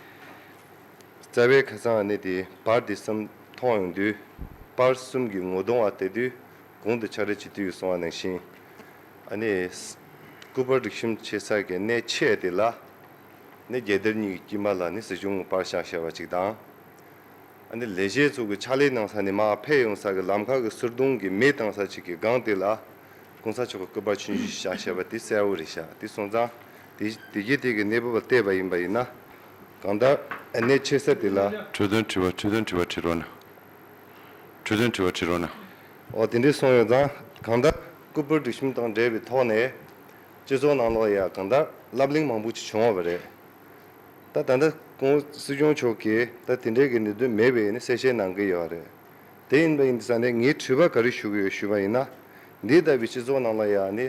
རྩ་བའི་ཁ་སང་གནས་དེ་བར་དེ་གསུམ་མཐོང་ཡོང་དུས་པར་གསུམ་གྱི་ངོ་གདོང་བ་དེ་དུས་གུང་དུ་ཆགས་འབྲེལ་བྱེད་དུས་སོང་བ་ནང་བཞིན་ཨ་ནི་སྐུ་པར་རིག་གཤོམ་བྱེད་ས་གི་གནས་ཆས་དེ་ལ་ནི་རྒྱལ་དར་གཉིས་ཀྱི་དཀྱིལ་མ་ལ་ནི་སྲིད་གཞུང་དངུལ་པར་ཤག་ཤག་བ་ཅིག་དང། ལས་བྱེད་ཚོ་གི་ཕྱག་ལས་གནང་ས་ནི་མ་ཕེབས་ཡོང་ས་གི་ལམ་ཁ་གི་ཟུར་དུང་གི་མེ་བཏང་ས་ཅིག་གི་སྒང་དེ་ལ། གོང་ས་མཆོག་གི་སྐུ་པར་ཆུན་བཞི་བཞག་བྱས་པ་དེ་གསལ་བོ་རེད་ཤག་དེ་སོང་ཙང་དེ་རྒྱུ་དེ་གི་གནས་བབ་ལ་བལྟས་པ་ཡིན་པ་ཡིན་ན། གང་ལྟར་གནས་ཆེ་ས་དེ་ལ། འཕྲོས་དོན་དྲི་བ་འཕྲོས་དོན་དྲི་བ་དྲི་རོགས་གནང། འཕྲོས་དོན་དྲི་བ་དྲི་རོགས་གནང། འོ་དེ་འདྲས་སོང་ཡོང་ཙང་གང་ལྟར་སྐུ་པར་སྒྲིག་གཤོམ་དང་འབྲེལ་བའི་ཐོག་ནས། སྤྱི་ཚོགས་ནང་ལོགས་ཡ་གང་ལྟར་ལབ་གླེང་མང་པོ་ཅིག་བྱུང་བ་རེད། ད་ད་ལྟ་ཁོང་སྲིད་སྐྱོང་མཆོག་གིས་ད་དེ་འདྲའི་གི་ནི་དོན་མེད་པའི་ནི་གསལ་བཤད་གནང་གི་ཡོད་རེད། དེ་ཡིན་པ་ཡིན་ས་ནས་ངས་དྲི་བ་ག་རེ་ཞུ་གི་ཡོད་ཞུས་པ་ཡིན་ན། འདི་ལྟ་བུའི་སྤྱི་ཚོགས་ནང་ལ་ཡང་ནི།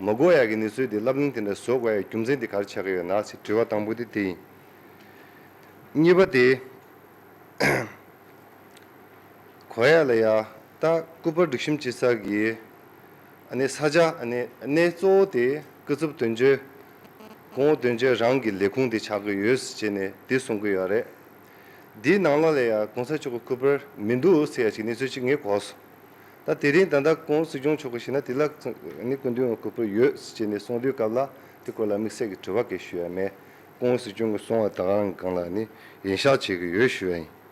མ་གོ་ཡ་གི་ནི་ཚུལ་དེ་ལབ་གླེང་དེ་འདྲ་བཟོ་དགོས་ཡ་རྒྱུ་མཚན་དེ་ག་རེ་ཆགས་ཀྱི་ཡོད་ན་ཚེ་དྲི་བ་དང་པོ་དེ་དེ་ཡིན། གཉིས་པ་དེ། གོ་ཡ་ལ་ཡ་ད་སྐུ་པར་སྒྲིག་གཤིམ་སྤྱི་ཚགས་ཀྱི། ནི་ས་ཆ་ནི་གནས་གཙོ་བོ་དེ་སྐུ་ཚབ་དོན་གཅོད། ཁོང་བོ་དོན་ཆེན་རང་གི་ལས་ཁུངས་དེ་ཆགས་ཀྱི་ཡོད་ཟེར་བྱས་ནས་དེ་གསུང་གི་ཡོད་རེད། དེའི་ནང་ལ་ལས་ཡ་གོང་ས་མཆོག་གི་སྐུ་པར་མི་འདུག་ཟེར་ཡ་ཞིག་གནས་ཚུལ་གཅིག་ངས་གོ་སོང། ད་དེ་རིང་ད་ལྟ་ཁོང་སྲིད་སྐྱོང་མཆོག་གི་ཞིང་ན་དེ་ལ་ནི་སྐུ་མདུན་གྱི་སྐུ་པར་ཡོད་ཟེར་བྱས་ནས་གསུང་དུས་སྐབས་ལ་དེ་སྐོར་ལ་དམིགས་བསལ་གྱི་དྲི་བ་འགའི་ཞུ་ཡ་མེད། ཁོང་སྲིད་སྐྱོང་གི་གསུང་བ་དང་རང་གི་སྒང་ལ་ནི་ཡིན་ཤག་བྱེད་ཀྱི་ཡོད་ཞུ་བ་ཡིན།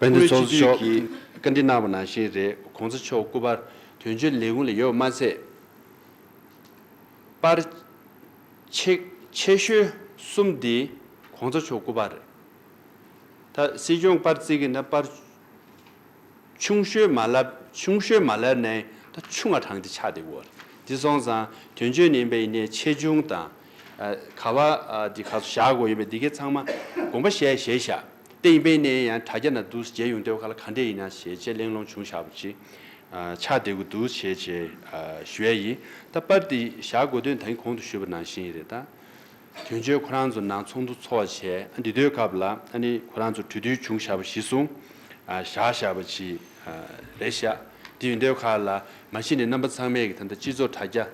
དཔལ་ལྡན་ཚོགས་གཙོ་མཆོག་གིས་བཀའ་འདྲི་གནང་བ་ནང་བཞིན་རེད་གོང་ས་མཆོག་སྐུ་པར་དོན་གཅོད་ལས་ཁུངས་ལ་ཡོད་མ་ཚད་པར། ཆེད་ཤོལ་གསུམ་འདི་གོང་ས་མཆོག་སྐུ་པར་རེད། ད་སྲིད་སྐྱོང་པར་བརྩིས་ཀྱི་ན་པར། ཆུང་ཤོས་མ་ལབ་ཆུང་ཤོས་མ་ལབ་ནས་ད་ཆུང་བ་དྲངས་ཏེ་ཆགས་འདི་བོར་འདི་སོང་ཙང་དོན་གཅོད་ནི་པའི་ནས་ཆེ་ཆུང་དང། ག་བ་འདི་ག་ཚོ་བཞག་དགོས་ཡིན་པས་འདི་གའི་ཚང་མ་དགོངས་པ་བཞེས་བཞེས་བཞག་ཏེ་ཡིན་པའི་ནས་ཡང་དྲ་རྒྱ་ན་འདུག་རྗེས་ཡོང་སྡོད་ག་ལ་ག་འདྲས་ཡིན་ན་བྱས་རྗེས་གླེང་སློང་བྱུང་བཞག་པ་ཅིག་ཆགས་འདི་དགོས་འདུག་བྱས་རྗེས་ཞུ་ཡ་ཡིན་ད་པར་འདི་བཞག་དགོས་དོན་ད་ཡིན་གོང་དུ་ཞུས་པ་ནང་བཞིན་རེད་ད། དོན་གཅོད་ཁོ་རང་ཚོ་ནང་ཚོགས་འདུ་འཚོགས་བྱས་ཨ་འདི་དོའི་སྐབས་ལ་ཨ་ནི་ཁོ་རང་ཚོ་གྲོས་བསྡུར་བྱུང་བཞག་པ་གཞི་བཟུང་བཞག་བཞག་པ་གཞི་རེད་བཞག་དེ་ཡོད་འདོད་ཁ་ལ་མ་གཞི་ནས་རྣམ་པ་ཚང་མས་ཀྱི་ད་ལྟ་སྤྱི་ཚོགས་དྲ་རྒྱ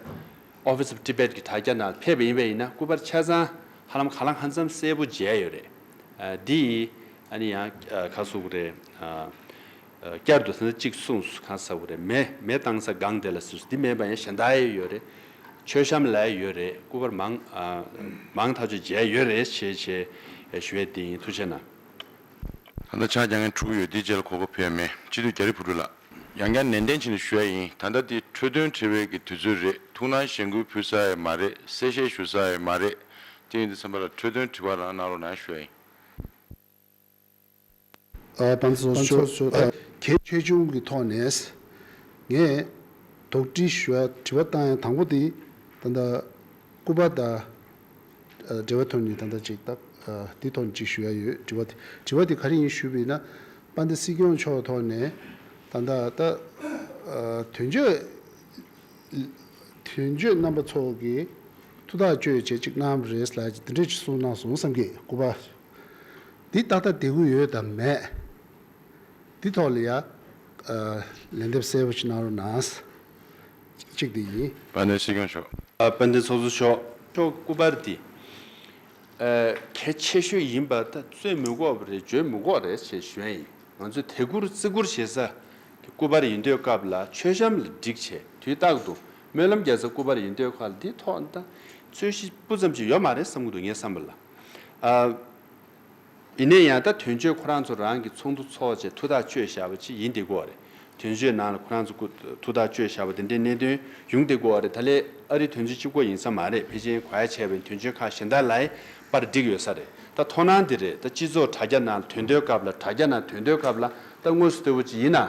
Office of Tibet གྱི་དྲ་རྒྱ་ནང་ཕེབས་པ་ཡིན་པ་ཡིན་ན་སྐུ་པར་ཆ་ཚང་ཧ་ལམ་ག་ལ་ང་ཙམ་གསལ་པོ་མཇལ་ཡོད་རེད་འདི་ཡིས་ཨ་ནི་ཡང་ཁ་སུག་རེད། བསྐྱར་དུ་ཟིན་ས་གཅིག་གསུངས་སུ་གང་ཟ་བོ་རེད་མེད་མེད་བཏང་ས་སྒང་དེ་ལ་ཟིན་སུ་འདི་མེད་པ་ཡང་གཞན་དག་ཡས་ཡོད་རེད་མཆོད་བཤམས་ལས་ཡོད་རེད་སྐུ་པར་མང་མང་ཐག་ཆོད་མཇལ་ཡོད་རེད་བྱས་བྱས་ཞུ་བས་དེ་ཡིན་ཐུགས་ཆེ་ན། ད་ལྟ་ཕྱག་རྒྱ་ངན་འཁྲུག་ཡོད་དེ་རྗེས་ལ་གོ་སྐབས་ཕལ་མེད་སྤྱི་འཐུས་རྒྱ་རི་བུ་ཕྲུག་ལགས། ཡང་ཀྱང་ནན་ཏན་བྱིན་ལ་ཞུ་ཡ་ཡིན་ད་ལྟ་དེ་འཕྲོས་དོན་འཁྲེལ་བའི་གི་དུས་ཚོད་རེད་ཐུགས་སྣང་གཞེན་སྐུལ་ཕུལ་ས་ཡས་མ་རེད་གསལ་བཤད་ཞུ་ས་ཡས་མ་རེད་དེ་ཡིན་དུས་ཚན་པ་ལ་འཕྲོས་དོན་དྲི་བ་རང་གནང་རོགས་ན་ཡང་ཞུ་ཡ་ཡིན། དཔའ་མཆོག་མཆོག་ཁྱད་ཆུང་གི་ཐོག་ནས་ངས་དོགས་དྲི་ཞུ་བ་དྲི་བ་བཏང་ཡང་དང་པོ་དེ་ད་ལྟ་སྐུ་པར་དང་འབྲེལ་བའི་ཐོག་ནས་ད་ལྟ་ཅིག་དེའི་ཐོག་ནས་ཅིག་ཞུ་ཡ་ཡོད་དྲི་བ་དེ་དྲི་བ་དེ་ག་རེ་ཡིན་ཞུས་པས་ན་པ་འདི་སྲིད་སྐྱོང་མཆོག་ཐོག་ནས་ད་ལྟ་ད་དོན་གཅོད་དོན་གཅོད་རྣམ་པ་ཚོ་གི་ཐུགས་ཐག་གཅོད་བྱེད་ཅིག་གནང་རེས་ལ་འདི་འདྲས་ཅིག་གསུངས་གནང་སོང་བསམ་གི་སྐུ་པར་འདི་ཏག་ཏག་དེ་གུ་ཡོད་དམ་མེད། འདི་ཐོག་ལ་ཡང། ལན་འདེབས་གསལ་བོ་ཅིག་གནང་རོགས་གནང། གཅིག་འདི་ཡིན། དཔལ་ལྡན་སྲིད་སྐྱོང་མཆོག། དཔལ་ལྡན་ཚོགས་གཙོ་མཆོག། མཆོག་སྐུ་པར་འདི། གལ་ཆེ་ཤོས་ཡིན་པ་ད་གཙོས་མི་གོ་བ་རེད་བརྗོད་མི་གོ་རེད་ཅེས་ཞུ་ཡ་ཡིན། ང་ཚོས་དད་བཀུར་བརྩི་བཀུར་བྱེད་ས་དེ་སྐུ་པར་ཡིན་དུས་སྐབས་ལ་མཆོད་བཤམས་ལ་འགྲིག་ཆེ་དུས་རྟག་ཏུ་སྨོན་ལམ་རྒྱག་ས་སྐུ་པར་ཡིན་དུས་ཁག་ལ་འདི་ཐོག་ད་ཚོད་གཞི་སྤུ་ཙམ་ཅིག་ཡོད་མ་རེད་བསམ་གྱི་འདུག་ངས་བསམ་པ་ལ། ཡིན་ནས་ཡང་ད་དོན་གཅོད་ཁོ་རང་ཚོ་རང་གི་ཚོགས་འདུ་འཚོགས་རྗེས་ཐུགས་ཐག་གཅོད་བཞག་པ་ཅིག་ཡིན་དེ་གོ་རེད་དོན་གཅོད་ནང་ལ་ཁོ་རང་ཚོ་ཐུགས་ཐག་གཅོད་བཞག་པ་དེ་འདྲའི་གནད་དོན་ཡོང་དེ་གོ་རེད་ད་ལས་ཨ་རི་དོན་གཅོད་གཅིག་པོ་ཡིན་ས་མ་རེད་བྷེ་ཇེན་གོ་ཡ་བྱས་པའི་དོན་གཅོད་ཁག་གཞན་དག་ལའི་པར་བསྒྲིགས་ཡོད་ས་རེད་ད་ཐོག་སྣང་དེ་རེད་ད་སྤྱི་ཚོགས་དྲ་རྒྱ་ནང་ལ་དོན་དོད་སྐབས་ལ་དྲ་རྒྱ་ནང་དོན་དོད་སྐབས་ལ་ད་དངོས་སུ་ལྟོས་པོ་ཅིག་ཡིན་ན།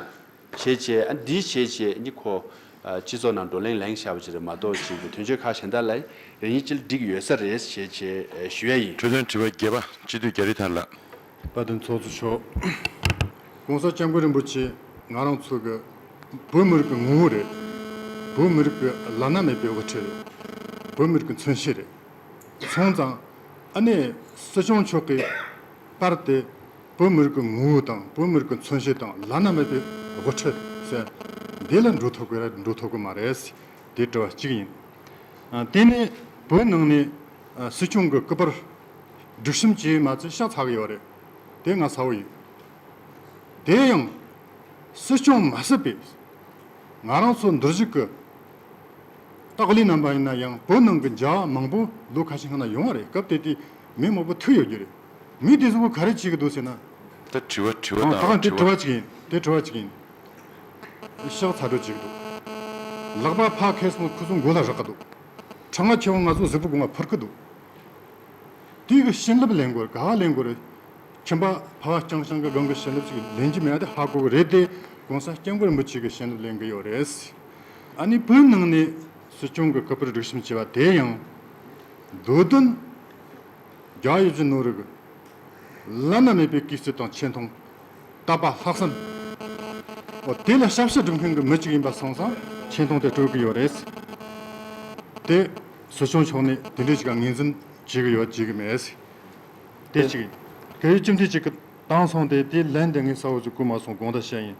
བྱེད་ཅེས་ཨ་འདིའི་བྱེད་ཅེས་ནི་ཁོ། སྤྱི་ཚོགས་ནང་བགྲོ་གླེང་གླེང་བཞག་པ་ཅིག་རེད་མ་གཏོགས་ཅིག་གི་དོན་གཅོད་ཁག་གཞན་དག་ལ་ཡིན་རེ་གཉིས་ཅི་ལ་འགྲིག་ཡོད་ས་རེད་བྱེད་ཅེས་ཞུ་ཡ་ཡིན། འཕྲོས་དོན་དྲི་བ་བརྒྱད་པ་སྤྱི་འཐུས་རྒྱ་རི་ཐར་ལགས། དཔལ་ལྡན་ཚོགས་གཙོ་མཆོག། ྋགོང་ས ྋསྐྱབས་མགོན་རིན་པོ་ཆེ་ང་རང་ཚོ་གི་བོད་མི་རིགས་ཀྱི་ངོ་བོ་རེད། བོད་མི་རིགས་ཀྱི་བླ་ན་མེད་པའི་དབུ་ཁྲིད་རེད། བོད་མི་རིགས་ཀྱི་མཚོན་བྱེད་རེད། མཚུངས་ཙང་ཨ་ནེ་སྲིད་སྐྱོང་མཆོག་གིས། པར་ཏེ། བོད་མི་རིགས་ཀྱི་ངོ་བོ་དང་བོད་མི་རིགས་ཀྱི་མཚོན་བྱེད་དང་བླ་ན་མེད་པའི་དབུ་ཁྲིད་ཟེར། འདི་ལ་འགྲོ་ཐུབ་དགོས་ར་འགྲོ་ཐུབ་དགོས་མ་རེད། དེ་དྲི་བ་གཅིག་ཡིན། དེ་ནས་བོད་ནང་ནས་སྲིད་སྐྱོང་གི་སྐུ་པར་སྒྲིག་ཁྲིམས་བཅས་མ་ཚད་ཤ་ཚ་གི་ཡོད་རེད། དེ་ང་ཚ་བོ་ཡིན། དེ་ཡང་སྲིད་སྐྱོང་མ་སྲིད་པས་ང་རང་ཚོ་འདུར་གཞིག་གི་སྟག་ལི་རྣམ་པ་ཡིན་ན་ཡང་བོད་ནང་གི་མཇལ་བ་མང་པོ་ལོ་ཁ་ཤས་སྔ་ན་ཡོང་བ་རེད་སྐབས་དེ་དུས་མི་མང་པོ་ཐུག་ཡོད་རྒྱུ་རེད། མི་དེ་ཚོ་བོ་ག་རེ་བྱེད་ཀྱི་འདུག་ཟེར་ན། ད་དྲི་བ་དྲི་བ་དང་རོ་དྲི་བ། དེ་དྲི་བ་གཅིག་ཡིན། ཤག་ཚ་དྲོད་བྱེད་ཀྱི་འདུག། ལག་པ་ཕག་ཁས་སོང་ཁོ་ཚོ་མགོ་ལ་རག་གི་འདུག། ཁྲག་མ་ཁྱེར་བ་ང་ཚོ་གཟུགས་པོ་སྒོ་ང་འཕུར་གི་འདུག། དུས་ཀྱི་བྱིན་རླབས་ལེན་དགོས་རེད་ག་ག་ལེན་དགོས་རེད། ཁྱིམ་པ་ཕ་བ་རྐྱང་ཤང་གི་སྒང་གི་བྱིན་རླབས་ཅིག་ལེན་གྱི་མེད་དེ་ཧ་གོ་གི་རེད་དེ་གོང་ས་སྐྱབས་མགོན་རིན་པོ་ཆེ་གི་བྱིན་རླབས་ལེན་གི་ཡོད་རེད། ཨ་ནི་བོད་ནང་ནས་སྲིད་སྐྱོང་གི་སྐུ་པར་སྒྲིག་ཞིབ་བྱས་པ་དེ་ཡང། འདོད་དོན། རྒྱ་ཡི་རྗེ་ནོར་རི་གི། བླ་ན་མེད་པའི་སྐུའི་རྩིབས་དང་ཆེ་མཐོང། བཏབ་པ་ལྷག་བསམ། འོ་དེ་ལ་ཞབས་ཕྱི་སྒྲུབ་མཁན་གྱི་མི་གཅིག་ཡིན་པ་སོང་ཙང་ཆེ་མཐོང་དེ་སྤྲོད་ཀྱི་ཡོད་རེད། དེ་ཟུར་ཆུང་མཆོག་ནས་དེ་འདྲའི་ཅིག་ལ་ངེས་འཛིན་བྱེད་ཀྱི་ཡོད་བྱེད་ཀྱི་མེད། དེ་གཅིག་ཡིན། དེ་ཡི་གཅིག་འདི་གཅིག་གི་བཏང་སོང་དེ་དེ་ལན་དེ་ངའི་ས་འོག་ཅིག་བརྐུས་མ་སོང་དགོངས་དག་བཤད་ཡིན།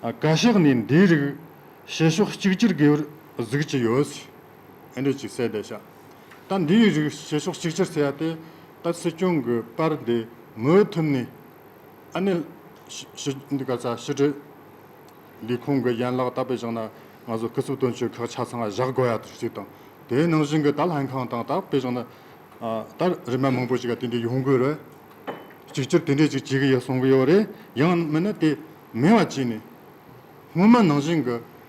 བཀའ་ཤག་ནས་འདིའི་རིགས་བྱེད་ཕྱོགས་གཅིག་གྱུར་དགོས་པར་གཟིགས་ཀྱི་ཡོད། ཕན་འབྲས་ཀྱི་གསལ་བརྡས་བྱ། ད་འདིའི་རིགས་བྱེད་ཕྱོགས་གཅིག་གྱུར་བྱེད་ཡ་དེ་ད་སྲིད་སྐྱོང་གི་པར་དེ་མུའུ་ཐུམ་ནས་ཨ་ནེ་ཞི་འདི་ག་ཚ་ཞི་ཀྲི་ལི་ཁོང་གི་ཡན་ལག་ད་པེ་བཞག་ན་ང་ཚོ་སྐུ་ཚབ་དོན་གཅོད་ཁག་ཆ་ཚང་བཞག་དགོས་ཡ་ཞིག་དང་དེའི་ནང་བཞིན་གི་ད་ལྷན་ཁང་དང་ད་པེ་བཞག་ན་ད་རི་མ་མང་པོ་ཞིག་ག་དེ་འདྲའི་ཡོང་དགོས་རེད། གཅིག་གྱུར་དེ་འདྲས་ཅིག་བྱེད་གི་ཡ་གསུང་གི་ཡོད་རེད་ཡང་མིན་ན་དེ་མིན་བ་བྱས་ནས་སྔོན་མ་ནང་བཞིན་གི།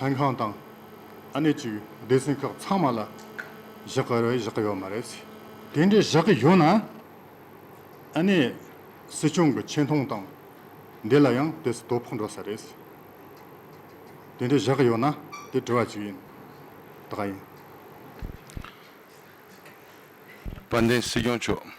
ལྷན་ཁང་དང་ཨ་ནེ་གཅིག་སྡེ་ཚན་ཁག་ཚང་མ་ལ་བཞག་གི་རེད་བཞག་གི་ཡོད་མ་རེད། དེ་འདྲའི་བཞག་གི་ཡོད་ན་ཨ་ནེ་སྲིད་སྐྱོང་གི་ཆེ་མཐོང་དང་འདི་ལ་ཡང་དེ་སུ་དོ་ཕོག་འགྲོ་ས་རེད། དེ་འདྲའི་བཞག་གི་ཡོད་ན་དེ་དྲི་བ་གཅིག་ཡིན་ད་ག་ཡིན། དཔལ་ལྡན་སྲིད་སྐྱོང་མཆོག།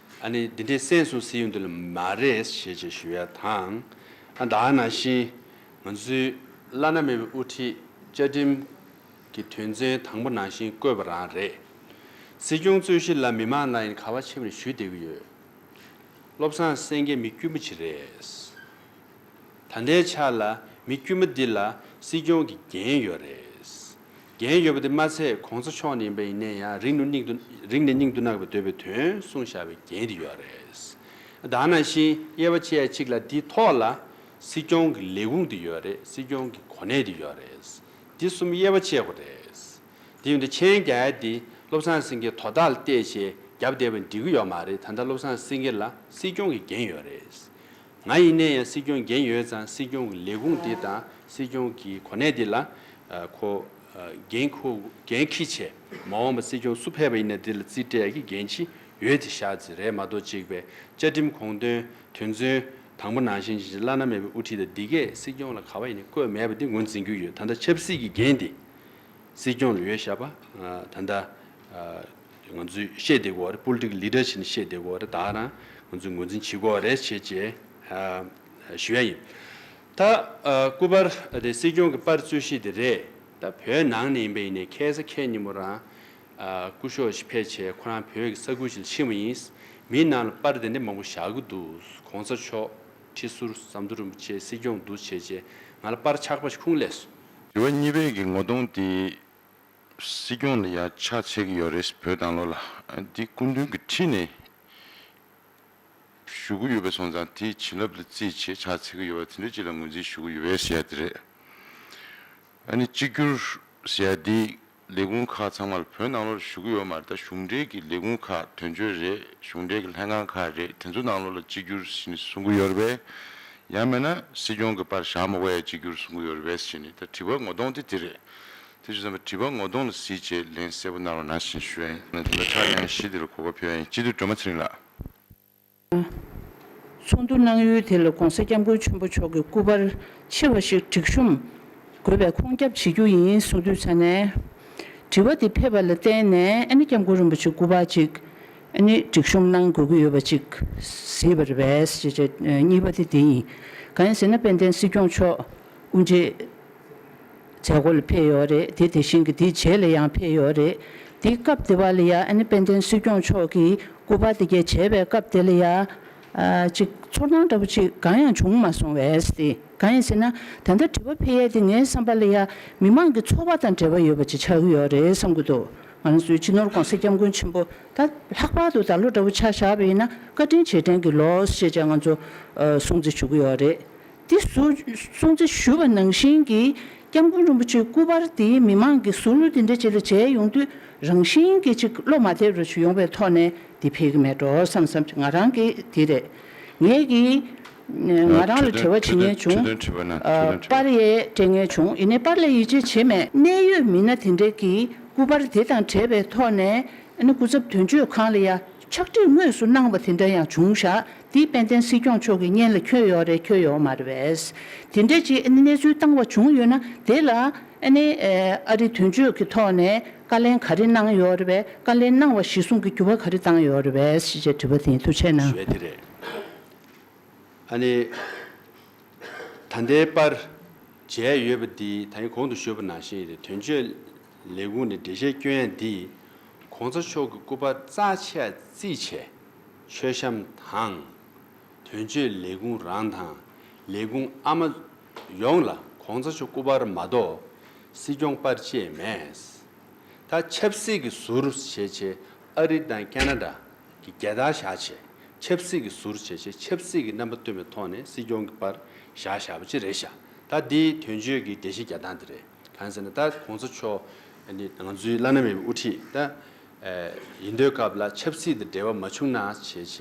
ཨ་ནི་འདི་འདྲའི་སེམས་སུ་སེའུ་འདི་ལ་མ་རེད་ཞེས་ཅེ་ཞུ་ཡ་དང། ཨ་ད་ནང་བཞིན་ང་ཚོའི་བླ་ན་མེད་པའི་དབུ་ཁྲིད་བཅའ་ཁྲིམས་ཀྱི་དོན་ཚན་དང་པོ་ནང་བཞིན་བཀོད་པ་རང་རེད། སྲིད་སྐྱོང་གཙོས་གཞི་ལ་མི་མང་ལ་ཡིན་ག་བ་ཆེམས་རེ་ཞུས་བསྡད་ཀྱི་ཡོད། བློ་བཟང་སེང་གེ་མི་དཀྱུས་མ་ཅིག་རེད། ད་ལྟའི་ཆ་ལ་མི་དཀྱུས་མ་འདི་ལ་སྲིད་སྐྱོང་གི་འགན་ཡོད་རེད། རྒྱན་ཡོད་པ་དེ་མ་ཚད་གོང་ས་མཆོག་ནས་ཡིན་པ་ཡིན་ནའི་ཡང་རིག་ནུ་སྙིང་དུ་རིག་ནས་སྙིང་དུ་བརྣག་པའི་འདོད་པའི་དོན་གསུང་བཞག་པའི་རྒྱན་དེ་ཡོད་རེད། དང་ནང་བཞིན་དབྱེ་བ་ཕྱེ་ཡ་གཅིག་ལ་འདི་ཐོག་ལ་སྲིད་སྐྱོང་གི་ལས་ཁུངས་དེ་ཡོད་རེད་སྲིད་སྐྱོང་གི་གོ་གནས་དེ་ཡོད་རེད། འདི་གསུམ་དབྱེ་བ་ཕྱེ་དགོས་རེད། དེ་ཡོད་ན་མཆན་རྒྱ་ཡ་འདི་བློ་བཟང་སེང་གེས་དོ་བདག་ལ་བལྟས་ཞེས་རྒྱབ་བསྡད་པ་འགྲིག་གི་ཡོད་མ་རེད་ད་ལྟ་བློ་བཟང་སེང་གེ་ལ་སྲིད་སྐྱོང་གི་རྒྱན་ཡོད་རེད། ང་ཡིན་ནས་ཡང་སྲིད་སྐྱོང་འགན་ཡོད་ཙང་སྲིད་སྐྱོང་གི་ལས་ཁུངས་འདི་དང་སྲིད་སྐྱོང་གི་གོ་གནས་འདི་ལ་ཁོ་འགན་ཁུ་འགན་ཁི་ཆེ། མ་འོངས་པ་སྲིད་སྐྱོང་སུ་ཕེབས་པ་ཡིན་ན་དེ་ལ་རྩིས་སྤྲད་ཀྱི་འགན་ཅི་ཡོད་དེ་བཞག་ཅི་རེད་མ་གཏོགས་གཅིག་པའི་བཅའ་ཁྲིམས་གོང་དོན་དོན་ཚུན་དང་པོ་ནང་བཞིན་བཞིན་བླ་ན་མེད་པའི་དབུ་ཁྲིད་དང་འདི་གས་སྲིད་སྐྱོང་ལ་ག་བ་ཡིན་ནས་བཀོད་མེད་པ་འདི་ངོས་འཛིན་རྒྱུ་ཡོད་ད་ལྟ་ཆབ་སྲིད་ཀྱི་འགན་འདི་སྲིད་སྐྱོང་ལ་ཡོད་བཞག་པ་ད་ལྟ་ང་ཚོས་ཤེས་བདེ་གོ་རེད་པོ་ལི་ཏིག་ལི་ཏྲ་ཆེ་ནི་ཤེས་བདེ་གོ་རེད་ད་རང་ང་ཚོས་ངོས་འཛིན་བྱེད་གོ་རེད་བྱེད་ཅེས་ཞུ་ཡ་ཡིན། ད་སྐུ་པར་དེ་སྲིད་སྐྱོང་གི་པར་རྩོད་གཞི་དེ་རེད་ད་བོད་ནང་ནས་ཡིན་པ་ཡིན་ནའི་ཁལ་ས་ཁལ་ཉིན་མོ་རང་སྐུ་ཤོག་ཞིག་ཕེ་བྱས་ཁོ་རང་བོད་ཀྱི་ས་ཁུལ་ཞིག་ལ་ཕྱིན་བ་ཡིན། མིའི་ནང་ལ་པར་དེ་འདྲ་མང་པོ་བཞག་གི་འདུག་གོང་ས་མཆོག་ཁྲི་ཟུར་ཟམ་གདོང་རིན་པོ་ཆེ་སྲིད་སྐྱོང་འདུག་བྱེད་ཅེས་ང་ལ་པར་ཆགས་པ་ཞིག་ཁུངས་ལེ་སོང། དྲི་བ་གཉིས་པའི་གི་ངོ་གདོང་དེ། སྲིད་སྐྱོང་ལ་ཡག་ཆ་བྱེད་ཀྱི་ཡོད་རེད་བོད་དང་ལོ་ལ་འདི་སྐུ་མདུན་གྱི་ཁྲིད་ནས་ཞུ་གི་ཡོད་པའི་སོང་ཙང་དེ་བྱིན་རླབས་ལ་རྩིས་བྱེད་ཆ་བྱེད་ཀྱི་ཡོད་པ་དེ་འདྲ་ཅིག་ལ་ངོས་འཛིན་ཞུ་གི་ཡོད་པས་ཟེར་ཡ་དེ་རེད་ཨ་ནི་གཅིག་གྱུར་ཟེར་ཡ་དེ་ལས་ཁུངས་ཁག་ཚང་མ་ལ་བོད་ནང་ལོ་ལ་ཞུ་གི་ཡོད་མ་རེད་ད་གཞུང་འབྲེལ་གྱི་ལས་ཁུངས་ཁག་དོན་གཅོད་རེད་གཞུང་འབྲེལ་གྱི་ལྷན་ཁང་ཁག་རེད་དེ་ཚོ་ནང་ལོ་ལ་གཅིག་གྱུར་ཟེར་ནས་གསུང་གི་ཡོད་རེད་པས་ཡང་མེད་ན་སྲིད་སྐྱོང་གི་པར་བཞག་མ་གོ་ཡ་གཅིག་གྱུར་གསུང་གི་ཡོད་རེད་པས་ཟེར་ནས་ད་དྲི་བ་ངོ་གདོང་དེ་དེ་རེད་དེ་བཞིན་བསམ་པ་དྲི་བ་ངོ་གདོང་ལ་གཟིགས་ཅེས་ལན་གསལ་པོ་གནང་བ་ན་བཞིན་ཞུ། ད་ལྟ་ཁྲག་དབྱངས་ཞི་བདེ་ལ་གོ་བ་ཕེབས་ཡ་ཡིན་སྤྱི་འཐུས་སྒྲོལ་མ་ཚེ་རིང་ལགས། ཚོགས་འདུ་གནང་ཡུལ་དེ་ལ་གོང་ས་སྐྱབས་མགོན་ཆེན་པོ་མཆོག་གི་སྐུ་པར་ཆེ་བ་ཞིག་སྒྲིག་གཤོམ་དགོས་པའི་ཁོང་སྐྱབས་བྱེད་རྒྱུ་ཡིན་གསུངས་དུས་ཚ་ནས། དྲི་བ་དེ་ཕེབས་པ་ལ་བརྟེན་ནས་ཨ་ནི་སྐྱབས་མགོན་རིན་པོ་ཆེ་སྐུ་པར་ཅིག་ཨ་ནི་སྒྲིག་གཤོམ་གནང་དགོས་ཀྱི་ཡོད་པ་ཅིག་གཟིགས་པ་རེད་བས། གཉིས་པ་དེ་དེ་ཡིན། གང་ཡིན་ཟེར་ན་དཔལ་ལྡན་སྲིད་སྐྱོང་མཆོག་དབུ་འབྱེད། བྱེད་སྒོ་ལ་ཕེབས་ཡོད་རེད་དེ་དེ་བཞིན་གྱི་དེའི་རྗེས་ལ་ཡང་ཕེབས་ཡོད་རེད་དེ་སྐབས་དེ་བ་ལ་ཡང་ཨ་ནེ་དཔལ་ལྡན་སྲིད་སྐྱོང་མཆོག་གིས་སྐུ་པར་དེ་གས་བྱས་པའི་སྐབས་དེ་ལ་ཡང། ཅིག་ཚོར་སྣང་འདྲ་པོ་ཅིག་གང་ཡང་བྱུང་མ་སོང་བས། གང་ཡིན་ཟེར་ན་དེ་འདྲ་དྲི་བ་ཕེབས་ཡས་དེ་ངའི་བསམ་པ་ལ་ཡང་མི་མང་གི་འཚོ་བ་དང་འབྲེལ་བ་ཡོད་པ་ཅིག་ཆགས་ཀྱི་ཡོད་རེད་བསམ་གྱི་འདུག་ང་རང་ཚོའི་སྤྱི་ནོར་གོང་ས་སྐྱབས་མགོན་ཆེན་པོ་ད་ལྷག་པར་དུ་ད་ལོ་འདྲ་པོ་ཆགས་བཞག་པ་ཡིན་ན་བཀའ་དྲིན་རྗེས་དྲན་གྱི་ལོ་ཞེས་བྱས་ང་ཚོ་སྲུང་བརྩི་ཞུ་གི་ཡོད་རེད་འདི་གསུང་ཚེ་ཞུ་བ་ནང་བཞིན་གྱིས་སྐྱབས་མགོན་རིན་པོ་ཆེའི་སྐུ་པར་དེ་མི་མང་གིས་ཟུར་གླུ་འདི་འདྲ་བྱེད་ལ་བྱས་ཡོང་དུས་རང་བཞིན་གྱིས་ཅིག་བློ་མ་བདེ་རུ་ཡོང་བའི་ཐོག་ནས་འདི་ཕེལ་གི་མེད་འགྲོ་བསམ་བསམ་གྱི་ང་རང་གི་དེ་རེད། ངེད་ཀྱིས་ང་རང་ལ་བྲེལ་བ་བྱེད་ངེས་བྱུང། པར་ཡས་སྤྲད་ངེས་བྱུང་ཡིན་ནའི་པར་ལས་ཡིད་ཆེས་བྱེད་མེད། གནད་ཡོད་མི་སྣ་དེ་འདྲ་གིས་སྐུ་པར་དེ་དང་བྲལ་བའི་ཐོག་ནས་ཨ་ནི་སྐུ་ཚབ་དོན་གཅོད་ཁང་ལ་ཡ། ཕྱག་བྲིས་དངོས་སུ་གནང་བ་དེ་འདྲ་ཡང་བྱུང་ཤག་འདི་དཔལ་ལྡན་སྲིད་སྐྱོང་མཆོག་གི་སྙན་ལ་འཁྱོལ་ཡོག་རེད་འཁྱོལ་ཡོག་མ་རེད་བས། དེ་འདྲའི་ཅིག་ཨ་ནི་གནས་ཚུལ་བཏང་བ་བྱུང་ཡོད་ན་དེ་ལ་ཨ་ནི་ཨ་རི་དོན་གཅོད་ཀྱི་ཐོག་ནས་བཀའ་ལན་ག་རེ་གནང་ཡོག་རེད་བས་བཀའ་ལན་གནང་བ་གཞི་བཟུང་གི་འགྱུར་བ་ག་རེ་བཏང་ཡོག་རེད་བས་ཞེས་དྲི་བ་དེའི་འཐུ་ཆད་གནང། ཞེས་དེ་རེད། ཨ་ནི་ད་ལྟའི་པར་བྱས་ཡོད་པ་འདིས་ད་ཡིན་གོང་དུ་ཞུས་པ་ནང་བཞིན་ཨ་རི་དོན་གཅོད་ལས་ཁུངས་ནས་འགྲེལ་བཤད་སྐྱོན་ཡང་འདིས། གོང་ཚོ་མཆོག་གི་སྐུ་པར་རྩ་ཆེ་ཡར་བརྩིས་བྱས། མཆོད་བཤམ་དང། དོན་གཅོད་ལས་ཁུངས་རང་དང་ལས་ཁུངས་ཨ་མ། ཡོངས་ལ་གོང་ཚོ་མཆོག་སྐུ་པར་མ་གཏོགས་སྲིད་སྐྱོང་པར་བཅས་མེད། ད་ཆབ་སྲིད་ཀྱི་ཟུར་བྱེད་ཆེད་ཨ་རི་དང་ཀ་ན་ད་ཀྱི་རྒྱལ་དར་བཞག་ཆེད་ཆབ་སྲིད་ཀྱི་ཟུར་བྱེད་ཆེད་ཆབ་སྲིད་ཀྱི་རྣམ་པ་སྟོན་པའི་ཐོག་ནས་སྲིད་སྐྱོང་གི་པར་བཞག་བཞག་པ་ཅི་རེད་བཞག་ད་འདི་དོན་གཅོད་ཀྱི་བདེ་གཤེགས་རྒྱལ་ཐང་དེ་རེད། གང་ཟེར་ན་ད་གོང་ཚོ་མཆོག་ནི་ང་ཚོའི་བླ་ན་མེད་པའི་དབུ་ཁྲིད་ད་ཡིན་དུས་སྐབས་ལ་ཆབ་སྲིད་དང་འབྲེལ་བ་མ་བྱུང་ན་བྱས་བྱས་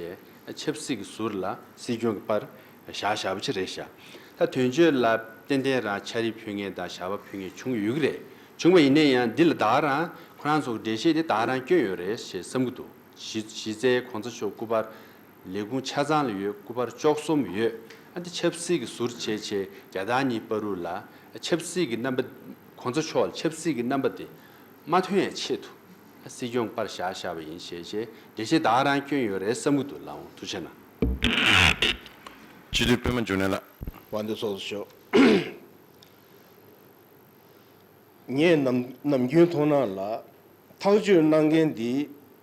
ད་ཆབ་སྲིད་ཀྱི་ཟུར་ལ་སྲིད་སྐྱོང་གི་པར་བཞག་བཞག་པ་ཆེ་རེད་བཞག་ད་དོན་གཅོད་ལ་ཏན་ཏན་རང་ཆ་རིས་ཕུལ་ངེས་དང་བཞག་པ་ཕུལ་ངེས་བྱུང་ཡོད་ཀྱི་རེད་བྱུང་བ་ཡིན་ན་ཡང་འདི་ལ་བདག་རང་ཁོ་རང་ཚོ་གི་འགྲེལ་བཤད་དེ་བདག་རང་སྐྱོན་ཡོད་རེད་ཞེས་བསམ་གྱི་འདུག་གཞི་རྩའི་གོང་ཚོ་མཆོག་སྐུ་པར་ལས་ཁུངས་ཆ་ཚང་ལ་ཡོད་སྐུ་པར་བཅོ་གསུམ་ཡོད། འདི་ཆབ་སྲིད་ཀྱི་ཟུར་བྱས་ཆེད་རྒྱ་དང་གཉིས་སྤར་རུ་ལ། ཆབ་སྲིད་ཀྱི་རྣམ་པ། གོང་ས་མཆོག་ལ་ཆབ་སྲིད་ཀྱི་རྣམ་པ་དེ་མ་ཐོན་ཡའི་ཆེད་དུ། སྲིད་སྐྱོང་པར་བཞག་བཞག་པ་ཡིན་ཞེས་བྱས་རྗེས་བདག་རང་སྐྱོན་ཡོད་རེད་བསམ་གྱི་འདུག་ལ་འོང་ཐུགས་ཆེ་གནང། སྤྱི་འཐུས་དཔོན་མོ་འབྱུང་གནས་ལགས། བ་འདི་སོགས་སུ་ཤོག། ངས་ནམ་རྒྱུན་མཐོང་སྣང་ལ། ཐག་གཅོད་གནང་མཁན་འདི།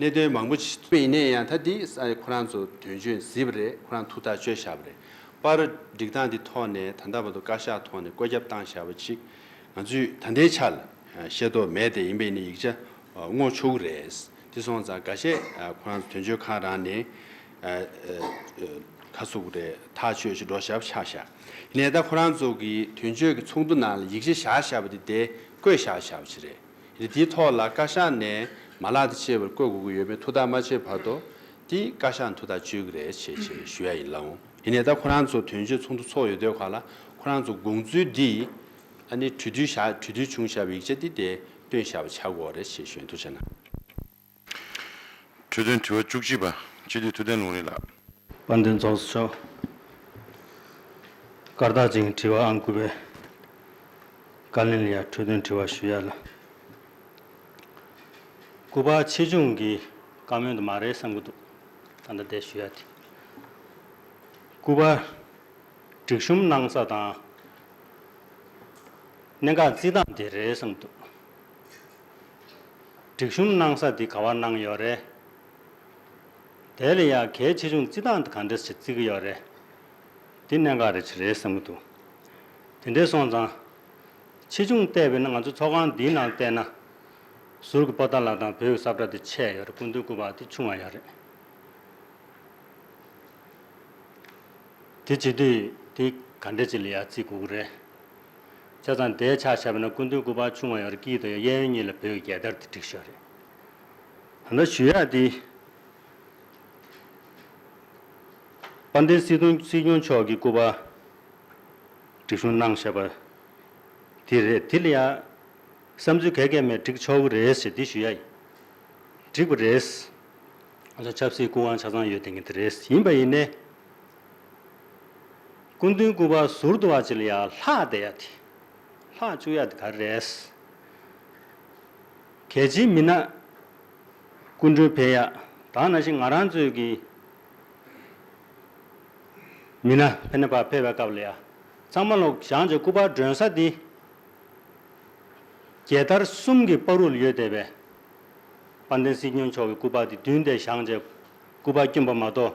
གནད་དོན་མང་པོ་ཞིག། ཡིན་ནས་ཡང་ད་འདི་ས་ཁོ་རང་ཚོ་དོན་གཅོད་མཛིད་པ་རེད་ཁོ་རང་ཐུགས་ཐག་གཅོད་བཞག་པ་རེད་པར་སྒྲིག་སྟངས་འདི་ཐོག་ནས་ད་ལྟ་བར་དུ་བཀའ་ཤག་ཐོག་ནས་བཀོད་ཁྱབ་བཏང་བཞག་པ་ཅིག་ང་ཚོས་ད་ལྟའི་ཆར་ཤེས་རྟོགས་མེད་དེ་ཡིན་པས་ནི་ཡིག་ཆ་བསྔོག་ཆོག་གི་རེད་དེ་སོང་ཙང་འགའ་ཤས་ཁོ་རང་ཚོ་དོན་གཅོད་ཁང་རང་ནས་ཁ་ཟུག་རེད་ཐག་གཅོད་ཅིག་འགྲོ་བཞག་པ་ཆགས་བཞག་ཡིན་ནས་ད་ཁོ་རང་ཚོ་གི་དོན་གཅོད་ཀྱི་ཚོགས་འདུ་ནང་ལ་ཡིག་ཆ་བཞག་བཞག་པ་དེ་དེ་བཀོད་བཞག་བཞག་པ་ཅིག་རེད། རི་དེའི་ཐོག་ལ་བཀའ་ཤག་ནས་མ་ལག་དེ་ཕྱེ་བར་བཀོད་དགོས་ཀྱི་ཡོད་མེད་ཐུགས་ཐག་མ་ཆོད་བར་དུ། དེ་བཀའ་ཤག་ནས་ཐུགས་ཐག་གཅོད་ཀྱི་རེད་ཞེས་ཞེས་ཞུ་ཡ་ཡིན་ལགས། དེ་ནས་ད་ཁོ་རང་ཚོ་དོན་གཅོད་ཚོགས་འདུ་ཚོགས་ཡོད་དུས་ག་ལ་ཁོ་རང་ཚོ་དགོངས་ཚུལ་འདི་ཨ་ནི་གྲོས་བསྡུར་བཞག་གྲོས་བསྡུར་བྱུང་བཞག་པའི་ཡིག་ཆ་འདི་དེ་བཏོན་བཞག་པ་ཆགས་དགོས་རེད་ཞེས་ཞུ་ཡ་འདུག་བྱས་ན། འཕྲོས་དོན་དྲི་བ་བཅུ་གཅིག་པ། སྤྱི་འཐུས་ཐུབ་བསྟན་ལུང་རིགས་ལགས། དཔལ་ལྡན་རྫོགས་སོ་ཤོག། བཀའ་རྟགས་ཅན་དྲི་བ་ཨང་དགུ་པའི། བཀའ་ལན་ལ་ཡང་འཕྲོས་དོན་དྲི་བ་ཞུ་ཡ་ལ། སྐུ་པར་ཆེ་ཆུང་གི་བཀའ་མོལ་དུ་མ་རེད་བསམ་གྱི་འདུག་ད་ལྟ་དེ་ཞུ་ཡ་དེ། སྐུ་པར་སྒྲིག་གཤོམ་གནང་ས་དང། གནད་འགག་རྩིས་སྟངས་དེ་རེད་བསམ་གྱི་འདུག། སྒྲིག་གཤོམ་གནང་ས་འདི་ག་བ་གནང་ཡོད་རེད། དེ་ལ་ཡང་གལ་ཆེ་ཆུང་བརྩི་སྟངས་དེ་ག་འདྲ་ཞིག་བརྩི་གི་ཡོད་རེད། འདི་གནད་འགག་རེད་ཅིག་རེད་བསམ་གི་འདུག་དེ་འདྲའི་སོང་ཙང། ཆེ་ཆུང་བལྟས་པས་ན་ང་ཚོ་ཚོགས་ཁང་འདིའི་ནང་བལྟས་ན། ཟུར་གྱི་པོ་ཏཱ་ལགས་དང་བོད་ཀྱི་སབ་བཀྲ་དེ་ཆད་ཡོད་རེད་སྐུ་མདུན་སྐུ་པགས་དེ་ཆུང་བ་ཡོད་རེད། དེ་བྱེད་དུས་དེ་ག་འདྲ་ཅིག་ལ་ཡང་བརྩི་དགོས་ཀྱི་རེད། ཆ་ཚང་བརྡའི་ཆ་བྱས་པ་ན་སྐུ་མདུན་སྐུ་པར་ཆུང་བ་ཡང་རིགས་དཀྱིལ་དང་ཡང་གཡས་གཡོན་གཉིས་ལ་བོད་ཀྱི་རྒྱལ་དར་དེ་བསྒྲིགས་ཤོག་རེད། ད་ནི་ཞུ་ཡག་འདི། དཔལ་ལྡན་སྲིད་སྐྱོང་མཆོག་གིས་སྐུ་པར་སྒྲིག་གཞུང་གནང་ཞེས་པ་དེ་རེད་དེ་ལ་ཡང་བསམ་ཚུལ་ག་གེ་མེད་བསྒྲིགས་ཆོག་གི་རེད་ཞེས་འདི་ཞུ་ཡག་ཡིན། བསྒྲིགས་པ་རེད། ཆབ་སྲིད་སྐུ་དབང་ཆ་ཚང་ཡོད་དེ་ངེས་དེ་རེད་ཡིན་པ་ཡིན་ནའི། སྐུ་མདུན་སྐུ་པར་ཟུར་དུ་བ་ཅི་ལ་ཡ་ལྷག་བསྡད་ཡ་དེ། ལྷག་བཅུག་ཡ་དེ་ག་རེ་རེད། གལ་ཆེ་མིན་ན། སྐུ་མགྲོན་ཕེབས་ཡ་དག་ན་ཞིག་ང་རང་ཚོའི་གི། མི་ན་ཕེ་ན་པར་ཕེབས་པའི་སྐབས་ལ་ཡ། གཙང་མ་ལོག་ཞང་ཆེ་སྐུ་པར་མགྲོན་ས་དེ། རྒྱལ་དར་གསུམ་གི་པར་རུལ་ཡོད་བསྡད་པས། དཔལ་ལྡན་སྲིད་སྐྱོང་མཆོག་གི་སྐུ་པར་དེ་བདུན་བསྡད་ཞང་ཆེ་སྐུ་པར་བསྐྱོན་པ་མ་གཏོགས།